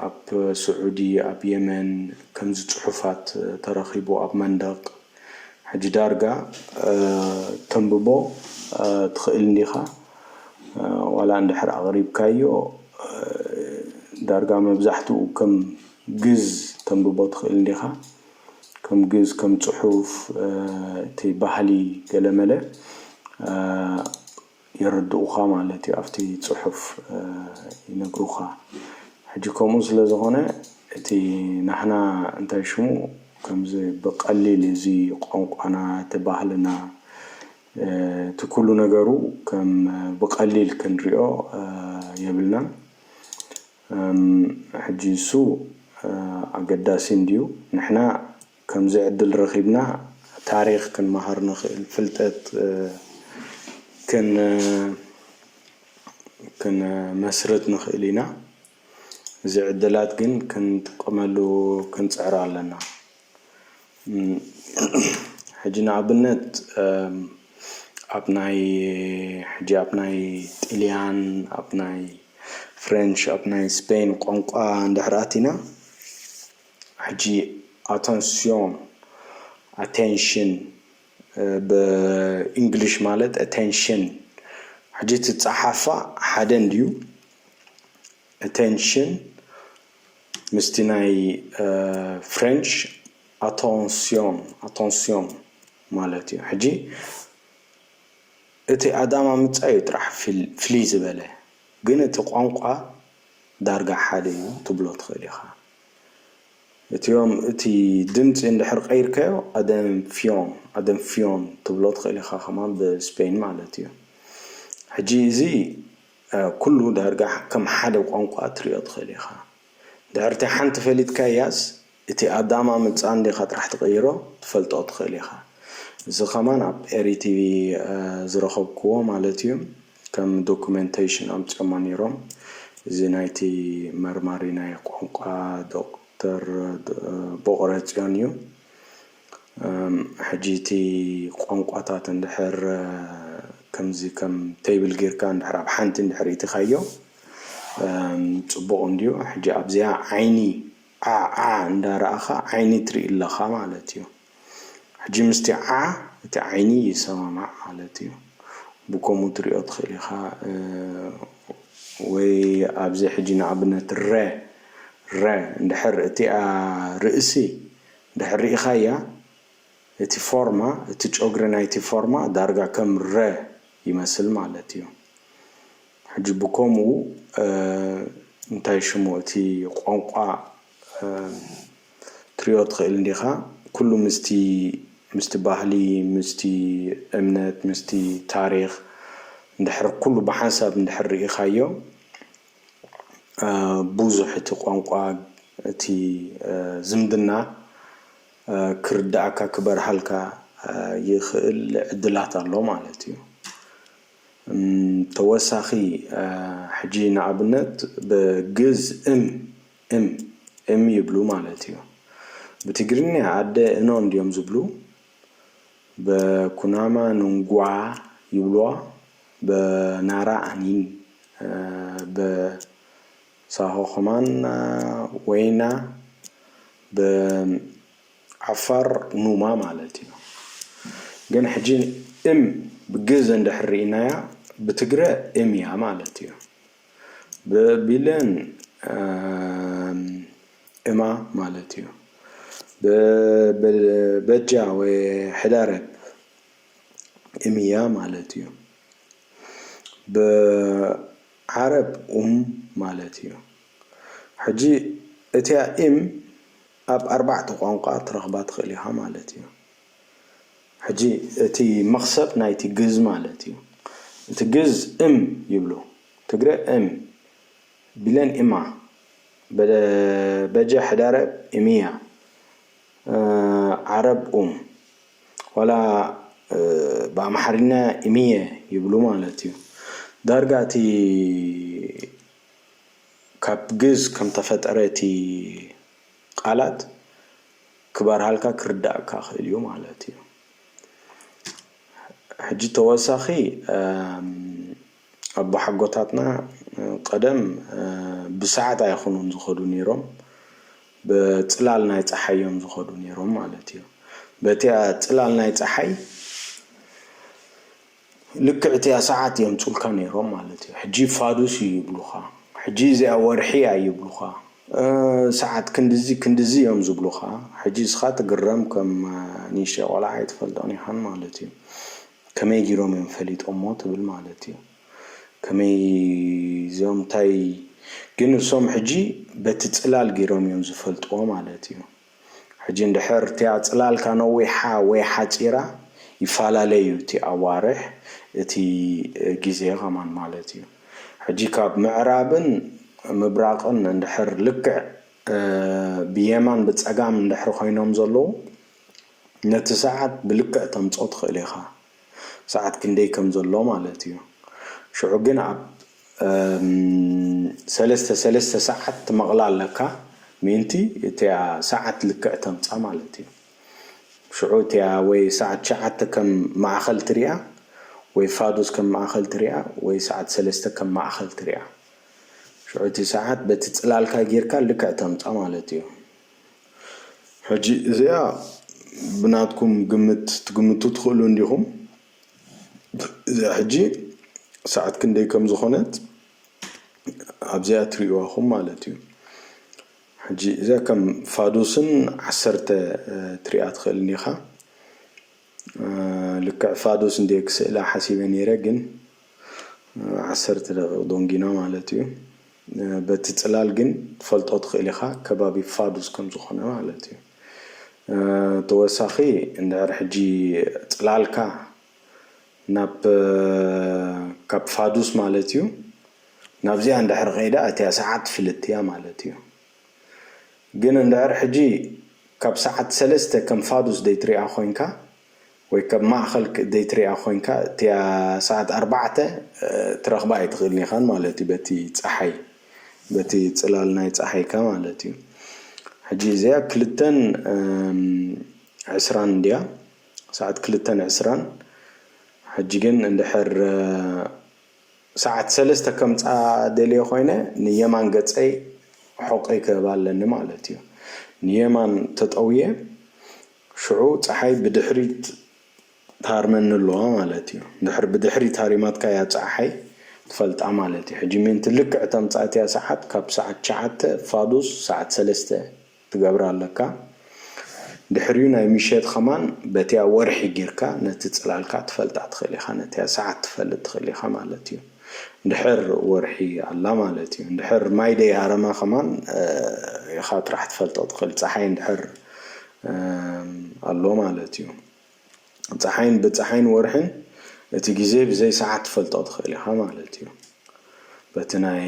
ኣብ ስዑዲ ኣብ የመን ከምዚ ጽሑፋት ተረኺቡ ኣብ መንደቕ ሕጂ ዳርጋ ተንብቦ ትኽእል እንዲኻ ዋላ እንድሕር ኣቕሪብካዮ ዳርጋ መብዛሕትኡ ከም ግእዝ ተንብቦ ትኽእል እንዲኻ ከም ግእዝ ከም ጽሑፍ እቲ ባህሊ ገለመለ የረድኡኻ ማለት እዩ ኣብቲ ጽሑፍ ይነግሩኻ ሕጂ ከምኡ ስለ ዝኾነ እቲ ናህና እንታይ ሽሙ ከምዚ ብቀሊል እዚ ቋንቋና እቲ ባህልና እቲ ኩሉ ነገሩ ከም ብቀሊል ክንሪኦ የብልናን ሕጂ እሱ ኣገዳሲ እንድዩ ንሕና ከምዚ ዕድል ረኺብና ታሪኽ ክንመሃር ንኽእል፣ ፍልጠት ክንመስርት ንኽእል ኢና። እዚ ዕድላት ግን ክንጥቀመሉ ክንጽዕር ኣለና። ሕጂ ንኣብነት ኣብ ናይ ሕጂ ኣብ ናይ ጥልያን ኣብ ናይ ፍረንች ኣብ ናይ ስፐይን ቋንቋ እንድሕር ኣቲና፣ ሕጂ ኣተንስዮን፣ Attention፣ ብ ኢንግሊሽ ማለት ኣተንሽን ሕጂ እቲ ጸሓፋ ሓደ እንድዩ ኣተንሽን ምስቲ ናይ ፍረንች ኣቶንስዮን፣ Attention፣ ማለት እዩ ሕጂ እቲ ኣዳማምጻ እዩ ጥራሕ ፍልይ ዝበለ ግን እቲ ቋንቋ ዳርጋ ሓደ እዩ ትብሎ ትኽእል ኢኻ። እቲኦም እቲ ድምጺ እንድሕር ቀይርካዮ ኣደንፍዮን Adenfion ትብሎ ትኽእል ኢኻ ከማን ብስፔይን ማለት እዩ ሕጂ እዚ ኩሉ ዳርጋ ከም ሓደ ቋንቋ ትሪኦ ትኽእል ኢኻ ድሕር እቲ ሓንቲ ፈሊጥካያስ እቲ ኣዳማ ምጻ እንዲኻ ጥራሕ ትቕይሮ ትፈልጦ ትኽእል ኢኻ እዚ ከማን ኣብ ኤሪቲቪ ዝረኸብክዎ ማለት እዩ ከም ዶኩመንተይሽን ኣምጺኦማ ነይሮም። እዚ ናይቲ መርማሪ ናይ ቋንቋ ዶክተር ቦቕረጽዮን እዩ። ሕጂ እቲ ቋንቋታት እንድሕር ከምዚ ከም ተይብል ጌርካ እንድሕር ኣብ ሓንቲ እንድሕር እኢትኻዮ ጽቡቕ እንድዩ። ሕጂ ኣብዚኣ ዓይኒ ዓዓ እንዳ ረኣኻ ዓይኒ ትርኢ ኣለኻ ማለት እዩ። ሕጂ ምስቲ ዓዓ እቲ ዓይኒ ይሰማማዕ ማለት እዩ ብከምኡ ትሪኦ ትክእል ኢካ ወይ ኣብዚ ሕጂ ንኣብነት ረ ረ እንድሕር እቲኣ ርእሲ እንድሕር ሪኢካያ እቲ ፎርማ እቲ ጮግሪ ናይቲ ፎርማ ዳርጋ ከም ረ ይመስል ማለት እዩ ሕጂ ብከምኡ እንታይ ሽሙ እቲ ቋንቋ ክትሪኦ ትኽእል እንዲኻ ኩሉ ምስቲ ምስቲ ባህሊ ምስቲ እምነት ምስቲ ታሪኽ እንድሕር ኩሉ ብሓንሳብ እንድሕር ርኢኻዮ ቡዙሕ እቲ ቋንቋ እቲ ዝምድና ክርዳኣካ ክበርሃልካ ይኽእል ዕድላት ኣሎ ማለት እዩ ተወሳኺ ሕጂ ንኣብነት ብግእዝ እም እም እም ይብሉ ማለት እዩ። ብትግርኛ ኣደ እኖ እንድዮም ዝብሉ በኩናማ ንንጉዓ ይብሉዋ በናራ ኣኒን በሳሆ ከማን ወይና በዓፋር ኑማ ማለት እዩ። ግን ሕጂ እም ብግእዝ እንድሕር ርኢናያ ብትግረ እም እያ ማለት እዩ። ብቢለን እማ ማለት እዩ በጃ ወይ ሕዳረብ እምያ ማለት እዩ ብዓረብ ኡም ማለት እዩ ሕጂ እቲያ እም ኣብ ኣርባዕተ ቛንቛ ትረኽባ ትኽእል ኢኻ ማለት እዩ። ሕጂ እቲ መኽሰብ ናይቲ ግእዝ ማለት እዩ። እቲ ግእዝ እም ይብሉ ትግረ እም ቢለን እማ በጀ ሕዳረ እምያ ዓረብ ኡም ዋላ ብኣምሓርኛ እምየ ይብሉ ማለት እዩ። ዳርጋ እቲ ካብ ግእዝ ከምተፈጠረ እቲ። ቃላት ክበርሃልካ ክርዳእካ ክእል እዩ ማለት እዩ ሕጂ ተወሳኺ ኣቦሓጎታትና ቀደም ብሰዓት ኣይኹኑን ዝኸዱ ነይሮም ብፅላል ናይ ፀሓይ እዮም ዝኸዱ ነይሮም ማለት እዩ በቲያ ፅላል ናይ ፀሓይ ልክዕ እቲኣ ሰዓት የምጹልካ ኔሮም ማለት እዩ ሕጂ ፋዱስ እዩ ይብሉኻ ሕጂ እዚኣ ወርሒ እያ ይብሉኻ ሰዓት ክንድዚ ክንድዚ እዮም ዝብሉኻ ሕጂ እስኻ ትግረም ከም ንእሽተይ ቆልዓ ኣይትፈልጦን ኢኻን ማለት እዩ ከመይ ጊሮም እዮም ፈሊጦሞ ትብል ማለት እዩ ከመይ እዞም ታይ ግን እሶም ሕጂ በቲ ጽላል ጊሮም እዮም ዝፈልጥዎ ማለት እዩ ሕጂ እንድሕር እቲኣ ጽላልካ ነዊሓ ወይ ሓጺራ ይፋላለ እዩ እቲ ኣዋርሕ እቲ ግዜ ከማን ማለት እዩ ሕጂ ካብ ምዕራብን ምብራቅን እንድሕር ልክዕ ብየማን ብጸጋም እንድሕር ኮይኖም ዘለዉ ነቲ ሰዓት ብልክዕ ተምጾ ትክእል ኢካ ሰዓት ክንደይ ከም ዘሎ ማለት እዩ ሽዑ ግን ኣብ ሰለስተ ሰለስተ ሰዓት ትመቕላ ኣለካ ምእንቲ እቲኣ ሰዓት ልክዕ ተምጻ ማለት እዩ ሽዑ እቲኣ ወይ ሰዓት ትሽዓተ ከም ማእኸል ትሪኣ ወይ ፋዱስ ከም ማእኸል ትሪኣ ወይ ሰዓት ሰለስተ ከም ማእኸል ትሪኣ ሽዑ እቲ ሰዓት በቲ ጽላልካ ጌርካ ልክዕ ተምጻ ማለት እዩ ሕጂ እዚኣ ብናትኩም ግምት ትግምቱ ትኽእሉ እንዲኹም እዚኣ ሕጂ ሰዓት ክንደይ ከም ዝኾነት ኣብዚኣ ትርእዩዋ ኹም ማለት እዩ ሕጂ እዚኣ ከም ፋዱስን ዓሰርተ ትሪኣ ትኽእል እንዲኻ ልክዕ ፋዱስ እንድየ ክስእላ ሓሲበ ነይረ ግን ዓሰርተ ደቂቅ ዶንጊና ማለት እዩ በቲ ጽላል ግን ትፈልጦ ትኽእል ኢኻ ከባቢ ፋዱስ ከም ዝኾነ ማለት እዩ ተወሳኺ እንድሕር ሕጂ ጽላልካ ናብ ካብ ፋዱስ ማለት እዩ ናብዚኣ እንድሕር ከይዳ እቲኣ ሰዓት ፍልጥቲ እያ ማለት እዩ። ግን እንድሕር ሕጂ ካብ ሰዓት ሰለስተ ከም ፋዱስ ደይትሪኣ ኮንካ ወይ ከም ማእከል ደይትሪኣ ኮንካ እቲኣ ሰዓት ኣርባዕተ ትረክባ ኣይትክእልን ኢካ ማለት እዩ በቲ ጸሓይ በቲ ጽላል ናይ ጸሓይካ ማለት እዩ ሕጂ እዚኣ ክልተን ዕስራን እንድያ ሰዓት ክልተን ዕስራን ሕጂ ግን እንድሕር ሰዓት ሰለስተ ከምጽኣ ደልየ ኮይነ ንየማን ገጸይ ሑቕይ ክህብ ኣለኒ ማለት እዩ ንየማን ተጠውየ ሽዑ ጸሓይ ብድሕሪት ትሃርመኒ ኣለዋ ማለት እዩ እንድሕር ብድሕሪት ሃሪማትካ እያ ጸዕሓይ ትፈልጣ ማለት እዩ ሕጂ ምእንቲ ልክዕ ተምጽኣትያ ሰዓት ካብ ሰዓት ትሽዓተ ፋዱስ ሰዓት ሰለስተ ትገብር ኣለካ ድሕሪኡ ናይ ምሸት ከማን በቲያ ወርሒ ጊርካ ነቲ ጽላልካ ትፈልጣ ትክእል ኢካ ነቲያ ሳዓት ትፈልጥ ትክእል ኢካ ማለት እዩ እንድሕር ወርሒ ኣላ ማለት እዩ እንድሕር ማይ ደይ ሃረማ ከማን ኢካ ጥራሕ ትፈልጦ ትክእል ጻሓይ እንድሕር ኣሎ ማለት እዩ። ጸሓይን ብጸሓይን ወርሕን እቲ ግዜ ብዘይ ሰዓት ትፈልጦ ትኽእል ኢኻ ማለት እዩ። በቲ ናይ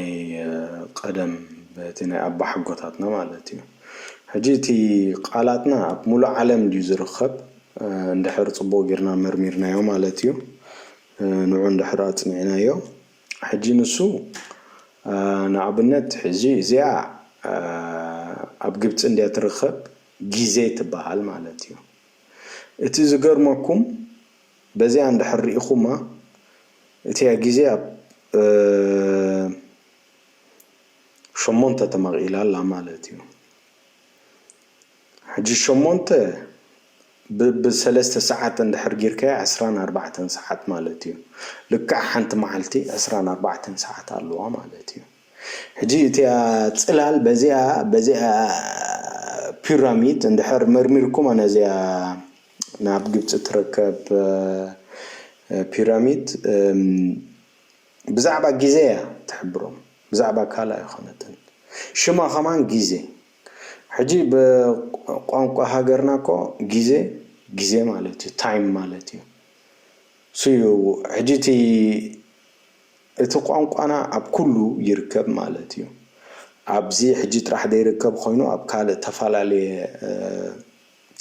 ቀደም በቲ ናይ ኣባሓጎታትና ማለት እዩ። ሕጂ እቲ ቃላትና ኣብ ሙሉእ ዓለም ድዩ ዝርኸብ እንድሕር ጽቡቕ ጌርና መርሚርናዮ ማለት እዩ። ንዑ እንድሕር ኣጽኒዕናዮ ሕጂ ንሱ ንኣብነት ሕጂ እዚኣ ኣብ ግብጺ እንድያ ትርኸብ ግዜ ትበሃል ማለት እዩ። እቲ ዝገርመኩም በዚኣ እንድሕር ሪኢኹማ እቲኣ ግዜ ኣብ ሸሞንተ ተመቒላ ኣላ ማለት እዩ። ሕጂ ሸሞንተ ብ ብ ሰለስተ ሰዓት እንድሕር ጊርካያ ዕስራን ኣርባዕተን ሰዓት ማለት እዩ። ልክዕ ሓንቲ መዓልቲ ዕስራን ኣርባዕተን ሰዓት ኣለዋ ማለት እዩ። ሕጂ እቲኣ ጽላል በዚኣ በዚኣ ፒራሚድ እንድሕር መርሚርኩማ ነዚኣ ናብ ግብጺ ትርከብ ፒራሚድ ብዛዕባ ግዜ እያ ትሕብሮም ብዛዕባ ካልእ ኣይኮነትን ሽማ ከማን ግዜ ሕጂ ብቋንቋ ሃገርና እኮ ግዜ ግዜ ማለት እዩ ታይም ማለት እዩ ሱዩ ሕጂ እቲ እቲ ቋንቋና ኣብ ኩሉ ይርከብ ማለት እዩ። ኣብዚ ሕጂ ጥራሕ ዘይርከብ ኮይኑ ኣብ ካልእ ተፈላለየ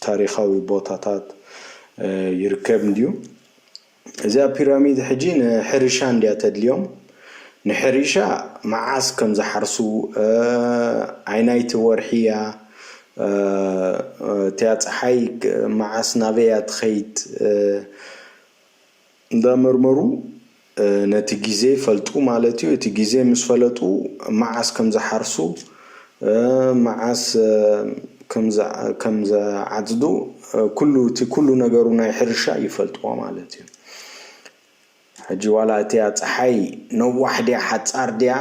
ታሪኻዊ ቦታታት ይርከብ እንድዩ። እዚኣ ፒራሚድ ሕጂ ንሕርሻ እንድያ ተድልዮም። ንሕርሻ መዓስ ከም ዝሓርሱ፣ ኣይናይቲ ወርሒ እያ፣ እቲያ ጸሓይ መዓስ ናበይ እያ ትኸይድ፣ እንዳመርመሩ ነቲ ግዜ ይፈልጡ ማለት እዩ። እቲ ግዜ ምስ ፈለጡ መዓስ ከም ዝሓርሱ መዓስ ከም ዝዓጽዱ ኩሉ እቲ ኩሉ ነገሩ ናይ ሕርሻ ይፈልጥዎ ማለት እዩ። ሕጂ ዋላ እቲኣ ጸሓይ ነዋሕ ድያ ሓጻር ድያ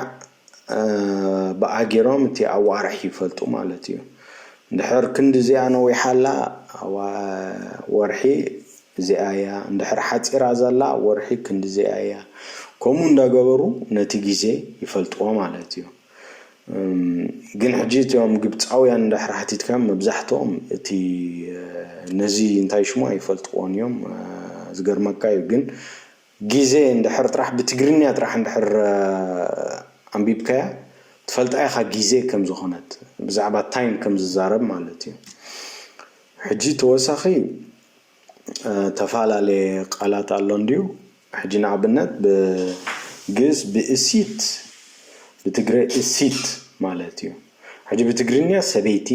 ብኣ ጌሮም እቲ ኣዋርሕ ይፈልጡ ማለት እዩ እንድሕር ክንዲ እዚኣ ነዊሓ ኣላ ወርሒ እዚኣ እያ እንድሕር ሓጺራ ዘላ ወርሒ ክንዲ እዚኣ እያ ከምኡ እንዳገበሩ ነቲ ግዜ ይፈልጥዎ ማለት እዩ ግን ሕጂ እቲኦም ግብጻውያን እንድሕር ሓቲትካዮም መብዛሕትኦም እቲ ነዚ እንታይ ሽሙ ኣይፈልጥዎን እዮም ዝገርመካ እዩ ግን ግዜ እንድሕር ጥራሕ ብትግርኛ ጥራሕ እንድሕር ኣንቢብካያ ትፈልጣ ኢኻ ግዜ ከም ዝኾነት ብዛዕባ ታይም ከም ዝዛረብ ማለት እዩ ሕጂ ተወሳኺ ተፋላለየ ቃላት ኣሎ እንድዩ ሕጂ ንኣብነት ብ ግእዝ ብእሲት ብትግረ እሲት ማለት እዩ ሕጂ ብትግርኛ ሰበይቲ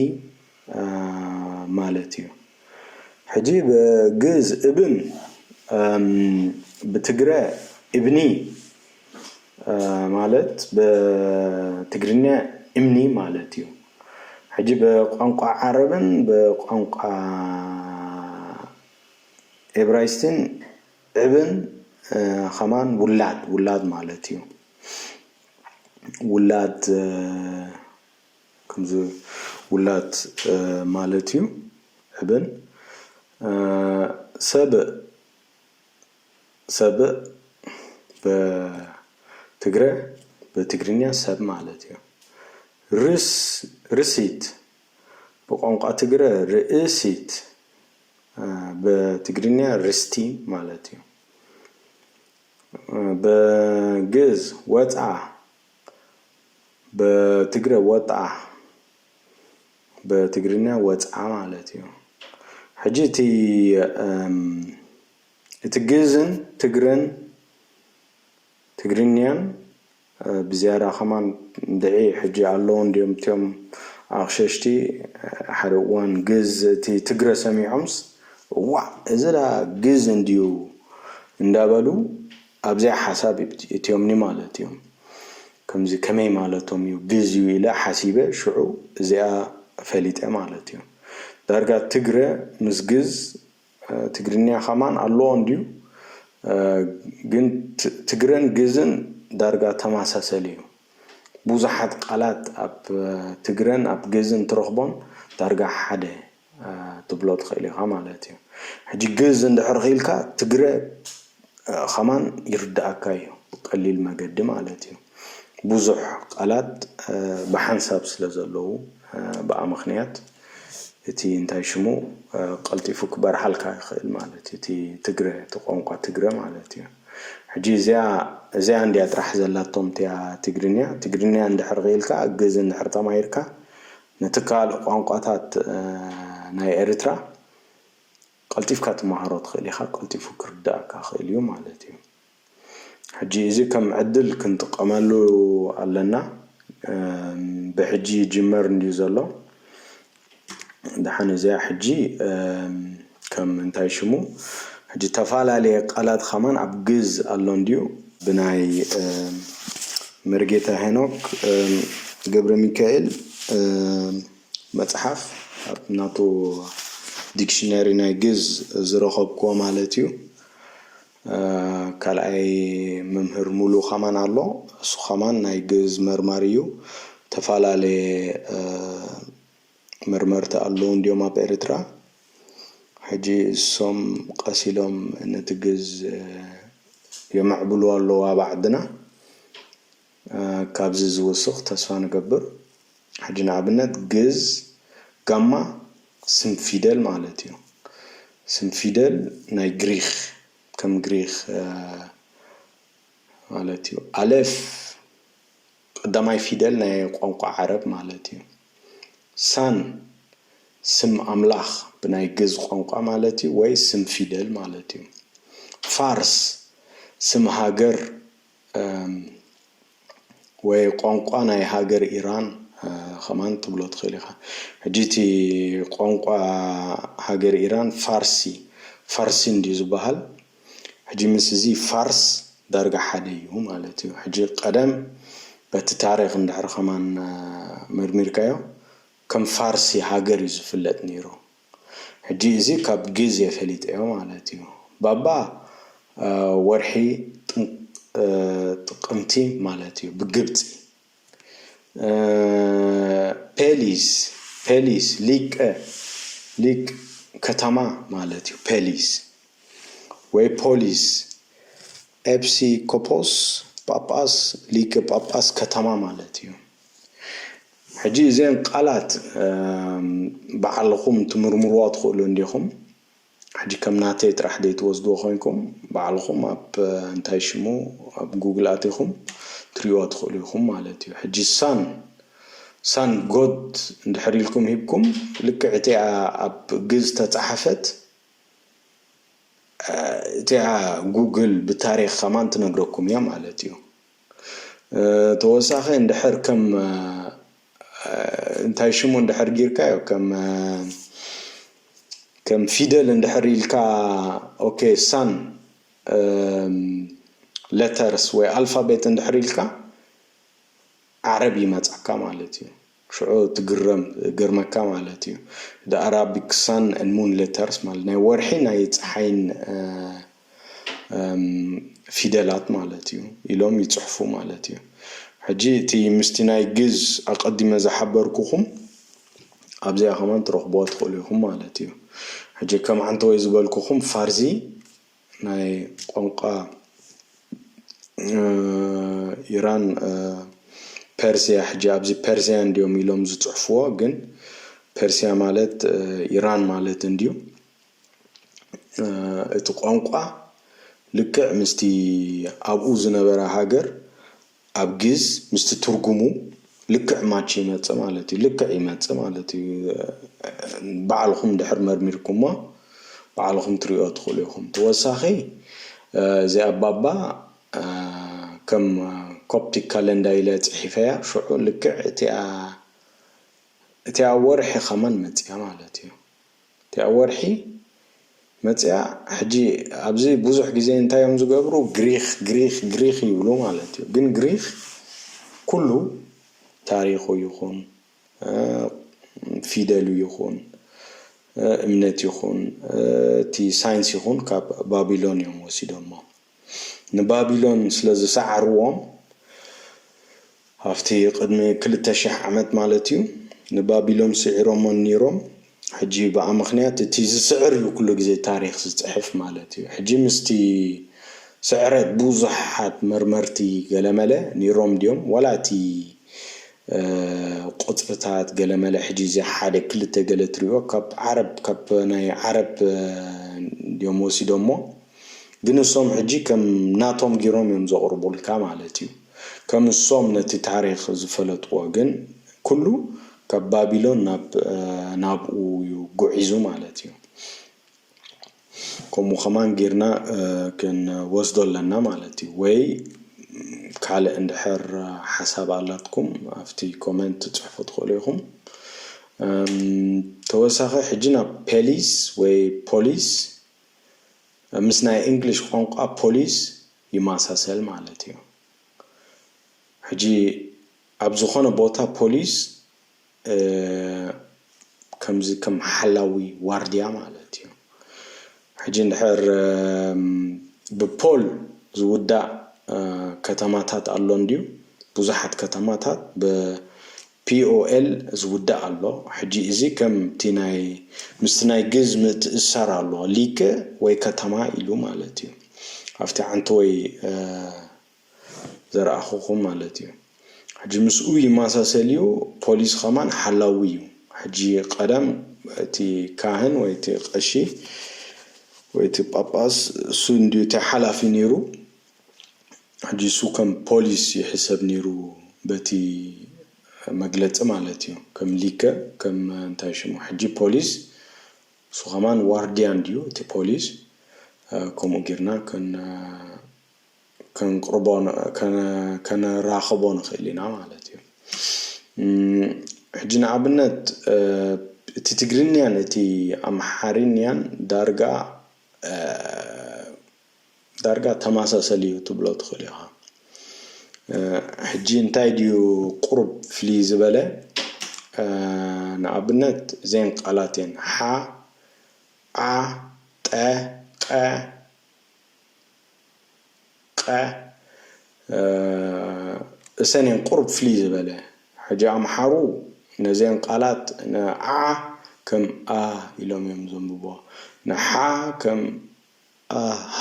ማለት እዩ ሕጂ ብ ግእዝ እብን ብ ትግረ እብኒ ማለት ብ ትግርኛ እምኒ ማለት እዩ ሕጂ ብ ቋንቋ ዓረብን ብ ቋንቋ ኤብራይስትን እብን ከማን ውላድ ውላድ ማለት እዩ ውላድ ከምዚ ውላድ ማለት እዩ እብል ሰብእ ሰብእ በትግረ በትግርኛ ሰብ ማለት እዩ ርስ ርሲት ብቋንቋ ትግረ ርእሲት በትግርኛ ርስቲ ማለት እዩ በግእዝ ወጽዓ በትግረ ወጥኣ በትግርኛ ወጽዓ ማለት እዩ ሕጂ እቲ እቲ ግእዝን ትግረን ትግርኛን ብዝያዳ ኸማን እንድዒ ሕጂ ኣለዉን ድዮም እትዮም ኣቕሸሽቲ ሓደ እዋን ግእዝ እቲ ትግረ ሰሚዖምስ እዋእ እዚ ደኣ ግእዝ እንድዩ እንዳበሉ ኣብዚኣ ሓሳብ እትዮምኒ ማለት እዮም ከምዚ ከመይ ማለቶም እዩ ግዝ እዩ ኢለ ሓሲበ ሽዑ እዚኣ ፈሊጠ ማለት እዩ ዳርጋ ትግረ ምስ ግዝ ትግርኛ ከማን ኣለዎ እንድዩ ግን ትግረን ግዝን ዳርጋ ተማሳሰሊ እዩ ቡዙሓት ቃላት ኣብ ትግረን ኣብ ግዝን ትረክቦም ዳርጋ ሓደ ክትብሎ ትክእል ኢካ ማለት እዩ ሕጂ ግእዝ እንድሕር ኪኢልካ ትግረ ከማን ይርድኣካ እዩ ብቀሊል መገዲ ማለት እዩ ቡዙሕ ቃላት ብሓንሳብ ስለ ዘለዉ ብኣ ምክንያት እቲ እንታይ ሽሙ ቀልጢፉ ክበርሓልካ ይክእል ማለት እዩ እቲ ትግረ እቲ ቋንቋ ትግረ ማለት እዩ ሕጂ እዚኣ እዚኣ እንድያ ጥራሕ ዘላቶም እቲኣ ትግርኛ ትግርኛ እንድሕር ኪኢልካ ግእዝ እንድሕር ተማሂርካ ንትካል ቋንቋታት ናይ ኤሪትራ ቀልጢፍካ ትማሃሮ ትክእል ኢካ ቀልጢፉ ክርዳኣካ ክእል እዩ ማለት እዩ ሕጂ እዚ ከም ዕድል ክንጥቀመሉ ኣለና ብሕጂ ይጅመር እንድዩ ዘሎ ዳሓን እዚኣ ሕጂ ከም እንታይ ሽሙ ሕጂ ተፋላልየ ቃላት ኸማን ኣብ ግእዝ ኣሎ እንድዩ ብናይ መርጌታ ሄኖክ ገብረሚካኤል መጽሓፍ ኣብ ናቱ ዲክሽነሪ ናይ ግእዝ ዝረኸብክዎ ማለት እዩ ካልኣይ መምህር ሙሉ ኸማን ኣሎ እሱ ኸማን ናይ ግእዝ መርማሪ እዩ ተፋላልየ መርመርቲ ኣለዉ እንድዮም ኣብ ኤርትራ ሕጂ እሶም ቀስ ኢሎም ነቲ ግዝ የመዕብልዎ ኣለዉ ኣብ ዓድና ካብዚ ዝውስኽ ተስፋ ንገብር ሕጂ ንኣብነት ግዝ ጋማ ስም ፊደል ማለት እዩ ስም ፊደል ናይ ግሪኽ ከም ግሪኽ ማለት እዩ ኣሌፍ ቀዳማይ ፊደል ናይ ቋንቋ ዓረብ ማለት እዩ። ሳን ስም ኣምላኽ ብናይ ግእዝ ቋንቋ ማለት እዩ ወይ ስም ፊደል ማለት እዩ። ፋርስ ስም ሃገር ወይ ቋንቋ ናይ ሃገር ኢራን ከማን ትብሎ ትኽእል ኢኻ። ሕጂ እቲ ቋንቋ ሃገር ኢራን ፋርሲ ፋርሲ እንድዩ ዝበሃል። ሕጂ ምስ እዚ ፋርስ ዳርጋ ሓደ እዩ ማለት እዩ። ሕጂ ቀደም በቲ ታሪኽ እንድሕር ከማን መርሚርካዮ ከም ፋርሲ ሃገር እዩ ዝፍለጥ ኔሩ። ሕጂ እዚ ካብ ግዜ ፈሊጠዮ ማለት እዩ። ባባ ወርሒ ጥቅምቲ ማለት እዩ ብግብጺ። ፐሊስ ፐሊስ ሊቀ ሊቅ ከተማ ማለት እዩ ፐሊስ ወይ ፖሊስ ኤጲስ ቆጶስ ጳጳስ ሊቀ ጳጳስ ከተማ ማለት እዩ። ሕጂ እዘን ቃላት ባዕልኩም ክትምርምርዋ ትክእሉ እንዲኩም። ሕጂ ከም ናተይ ጥራሕ ደይትወስድዎ ኮይንኩም ባዕልኹም ኣብ እንታይ ሽሙ ኣብ ጉግል ኣቲኹም ትሪእዋ ትኽእሉ ኢኹም ማለት እዩ ሕጂ ሳን ሳን ጎድ እንድሕር ኢልኩም ሂብኩም ልክዕ እቲኣ ኣብ ግእዝ ዝተጻሓፈት እቲኣ ጉግል ብታሪኽ ከማን ትነግረኩም እያ ማለት እዩ። ተወሳኺ እንድሕር ከም እንታይ ሽሙ እንድሕር ጊርካዮ ከም ከም ፊደል እንድሕር ኢልካ ኦኬ ሳን ለተርስ ወይ ኣልፋቤት እንድሕር ኢልካ ዓረብ ይመጻካ ማለት እዩ። ሽዑ ትግረም ገርመካ ማለት እዩ the Arabic sun and moon letters ማለት ናይ ወርሒ ናይ ጸሓይን ፊደላት ማለት እዩ ኢሎም ይጽሕፉ ማለት እዩ ሕጂ እቲ ምስቲ ናይ ግእዝ ኣቀዲመ ዝሓበርኩኹም ኣብዚኣ ከማን ትረኽብዋ ትኽእሉ ኢኹም ማለት እዩ ሕጂ ከም ዓንተወይ ዝበልኩኹም ፋርዚ ናይ ቋንቋ ኢራን ፐርስያ ሕጂ ኣብዚ ፐርስያ እንድዮም ኢሎም ዝጽሕፍዎ ግን ፐርስያ ማለት ኢራን ማለት እንድዩ እቲ ቋንቋ ልክዕ ምስቲ ኣብኡ ዝነበረ ሃገር ኣብ ግእዝ ምስቲ ትርጉሙ ልክዕ ማች ይመጽእ ማለት እዩ ልክዕ ይመጽእ ማለት እዩ ባዕልኹም ድሕር መርሚርኩሞ ባዕልኹም ትሪኦ ትኽእሉ ኢኹም ተወሳኺ እዚ ኣባባ ከም ኮፕቲክ ካለንዳ ኢለ ጽሒፈያ ሽዑ ልክዕ እቲኣ እቲኣ ወርሒ ከማን መጽያ ማለት እዩ እቲኣ ወርሒ መጺኣ ሕጂ ኣብዚ ብዙሕ ግዜ እንታይ እዮም ዝገብሩ ግሪኽ ግሪኽ ግሪኽ ይብሉ ማለት እዩ ግን ግሪኽ ኩሉ ታሪኹ ይኹን ፊደሉ ይኹን እምነት ይኹን እቲ ሳይንስ ይኹን ካብ ባቢሎን እዮም ወሲዶሞ። ንባቢሎን ስለ ዝሰዓርዎም፣ ኣብቲ ቅድሚ ክልተ ሽሕ ዓመት ማለት እዩ፣ ንባቢሎን ስዒሮሞን ኔሮም፣ ሕጂ ብኣ ምኽንያት እቲ ዝስዕር እዩ ኩሉ ግዜ ታሪኽ ዝጽሕፍ ማለት እዩ፣ ሕጂ ምስቲ ስዕረት ብዙሓት መርመርቲ ገለመለ ኔሮም ድዮም ዋላ እቲ ቁጽርታት ገለመለ ሕጂ እዚ ሓደ ክልተ ገለ ትሪኦ ካብ ዓረብ ካብ ናይ ዓረብ ድዮም ወሲዶሞ፣ ግን እሶም ሕጂ ከም ናቶም ጊሮም እዮም ዘቅርቡልካ ማለት እዩ ከም እሶም ነቲ ታሪኽ ዝፈለጥዎ ግን ኩሉ ካብ ባቢሎን ናብ ናብኡ እዩ ጉዒዙ ማለት እዩ ከምኡ ከማን ጊርና ክንወስዶ ኣለና ማለት እዩ ወይ ካልእ እንድሕር ሓሳብ ኣላትኩም ኣብቲ ኮመንት ትጽሕፉ ትክእሉ ኢኹም ተወሳኺ ሕጂ ናብ ፔሊስ ወይ ፖሊስ ምስ ናይ እንግሊሽ ቋንቋ ፖሊስ ይማሳሰል ማለት እዩ ሕጂ ኣብ ዝኾነ ቦታ ፖሊስ ከምዚ ከም ሓላዊ ዋርድያ ማለት እዩ ሕጂ እንድሕር ብፖል ዝውዳእ ከተማታት ኣሎ እንድዩ ብዙሓት ከተማታት ብ POL ዝውዳእ ኣሎ ሕጂ እዚ ከም እቲ ናይ ምስቲ ናይ ግእዝ ምእትእስሳር ኣሎ ሊከ ወይ ከተማ ኢሉ ማለት እዩ ኣብቲ ዓንተወይ ዘርኣኹኹም ማለት እዩ ሕጂ ምስኡ ይማሳሰል እዩ ፖሊስ ኸማን ሓላዊ እዩ ሕጂ ቀደም እቲ ካህን ወይ እቲ ቀሺ ወይ እቲ ጳጳስ እሱ እንድዩ እቲ ሓላፊ ነይሩ ሕጂ እሱ ከም ፖሊስ ይሕሰብ ኔሩ በቲ መግለጺ ማለት እዩ ከም ሊከ ከም እንታይ ሽሙ ሕጂ ፖሊስ እሱ ከማን ዋርድያ እንድዩ እቲ ፖሊስ ከምኡ ጌርና ከንቅርቦ ከነራኽቦ ንኽእል ኢና ማለት እዩ ሕጂ ንኣብነት እቲ ትግርኛን እቲ ኣምሓርኛን ዳርጋ ዳርጋ ተማሳሰል እዩ ትብሎ ትኽእል ኢኻ። ሕጂ እንታይ ድዩ ቁሩብ ፍልይ ዝበለ ንኣብነት እዘን ቃላት እየን ሓ ዓ ጠ ቀ ቐ እሰን እየን ቁሩብ ፍልይ ዝበለ ሕጂ ኣምሓሩ ነዘን ቃላት ን ዓ ከም ኣ ኢሎም እዮም ዘንብብዋ ን ሓ ከም ኣሃ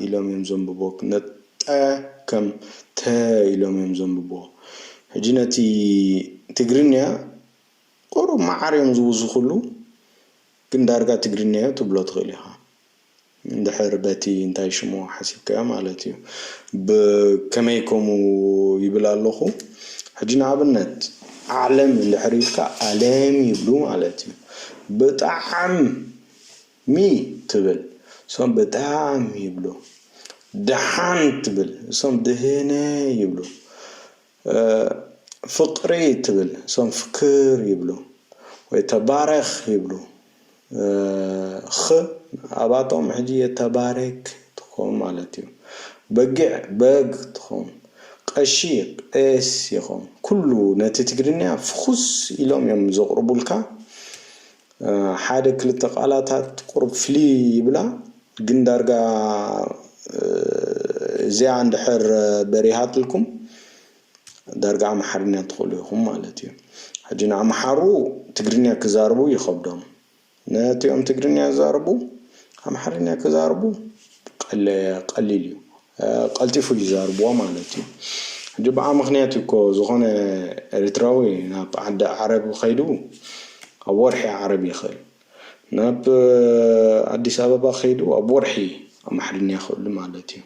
ኢሎም እዮም ዘንብብዎ ነጠ ከም ተ ኢሎም እዮም ዘንብብዎ ሕጂ ነቲ ትግርንያ ቁሩብ መዓር እዮም ዝውስኽሉ ግን ዳርጋ ትግርንያዮ ትብሎ ትኽእል ኢኻ እንድሕር በቲ እንታይ ሽሙ ሓሲብካዮ ማለት እዩ ብ ከመይ ከምኡ ይብል ኣለኹ ሕጂ ንኣብነት ዓለም እንድሕር ኢልካ ኣለም ይብሉ ማለት እዩ ብጣዕም ሚ ትብል እሶም ብጣዕሚ ይብሉ ደሓን ትብል እሶም ድህነ ይብሉ ፍቅሪ ትብል እሶም ፍክር ይብሉ ወይ ተባረክ ይብሉ ክ ኣባቶም ሕጂ የተባረክ ትኮን ማለት እዩ በጊዕ በግ ትኮን ቀሺ ቄስ ይኮን ኩሉ ነቲ ትግርኛ ፍኩስ ኢሎም እዮም ዘቅርቡልካ ሓደ ክልተ ቃላታት ቁሩብ ፍልይ ይብላ ግን ዳርጋ እዚኣ እንድሕር በሪሃትልኩም ዳርጋ ኣምሓርኛ ትኽእሉ ኢኹም ማለት እዩ። ሕጂ ንኣምሓሩ ትግርኛ ክዛረቡ ይኸብዶም ነቲኦም ትግርኛ ዝዛረቡ ኣምሓርኛ ክዛረቡ ቀሊል እዩ። ቀልጢፉ እዩ ዛርብዎ ማለት እዩ ሕጂ ብኣ ምክንያት እዩ እኮ ዝኮነ ኤሪትራዊ ናብ ዓዲ ዓረብ ከይዱ ኣብ ወርሒ ዓረብ ይክእል ናብ ኣዲስ ኣበባ ከይዱ ኣብ ወርሒ ኣምሓርኛ ክእሉ ማለት እዩ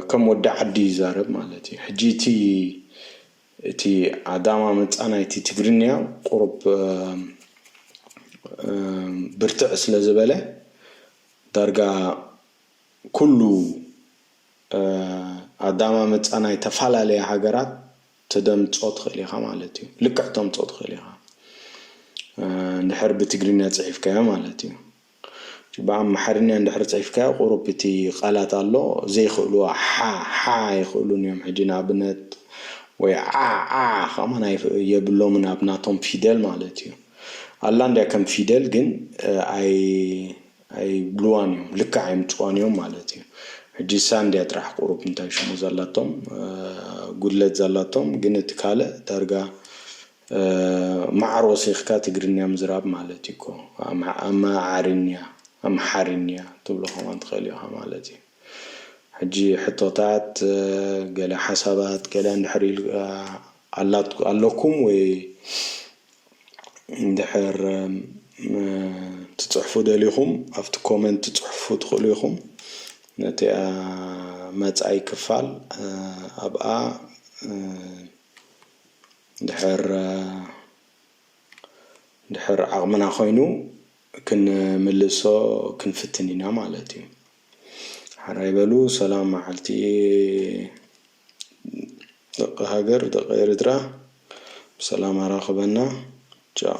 ከም ወዲ ዓዲ ይዛረብ ማለት እዩ ሕጂ እቲ እቲ ኣዳማ መጻ ናይቲ ትግርኛ ቁሩብ ብርትዕ ስለ ዝበለ ዳርጋ ኩሉ ኣዳማምጻ ናይ ተፋላለያ ሃገራት ተደምጾ ትክእል ኢካ ማለት እዩ ልክዕ ተምጾ ትክእል ኢካ እንድሕር ብትግርኛ ጽሒፍካዮ ማለት እዩ እቲ ብኣምሓርኛ እንድሕር ጽሒፍካዮ ቁሩብ እቲ ቃላት ኣሎ ዘይክእልዎ ሓ ሓ ኣይክእሉን እዮም ሕጂ ንኣብነት ወይ ዓዕ ዓዕ ከማን ኣይፍ የብሎምን ኣብ ናቶም ፊደል ማለት እዩ ኣላ እንድያ ከም ፊደል ግን ኣይ ኣይብልዋን እዮም ልክዕ ኣይምጽዋን እዮም ማለት እዩ ሕጂ እሳ እንድያ ጥራሕ ቁሩብ እንታይ ሽሙ ዘላቶም ጉድለት ዘላቶም ግን እቲ ካልእ ዳርጋ ማዓር ወሲኽካ ትግርንያ ምዝራብ ማለት እዩ እኮ ኣማዓርንያ ኣምሓርንያ ትብሎ ከማን ትኽእል ኢኻ ማለት እዩ ሕጂ ሕቶታት ገለ ሓሳባት ገለ እንድሕር ኢልካ ኣለኩም ወይ እንድሕር ትጽሕፉ ደሊኹም ኣብቲ ኮመንት ትጽሕፉ ትኽእሉ ኢኹም ነቲኣ መጻኢ ክፋል ኣብኣ ድሕር ድሕር ዓቕምና ኮይኑ ክንምልሶ ክንፍትን ኢና ማለት እዩ ሓራይ በሉ ሰላም መዓልቲ ደቒ ሃገር ደቒ ኤሪትራ ብሰላም ኣራኽበና ቻው።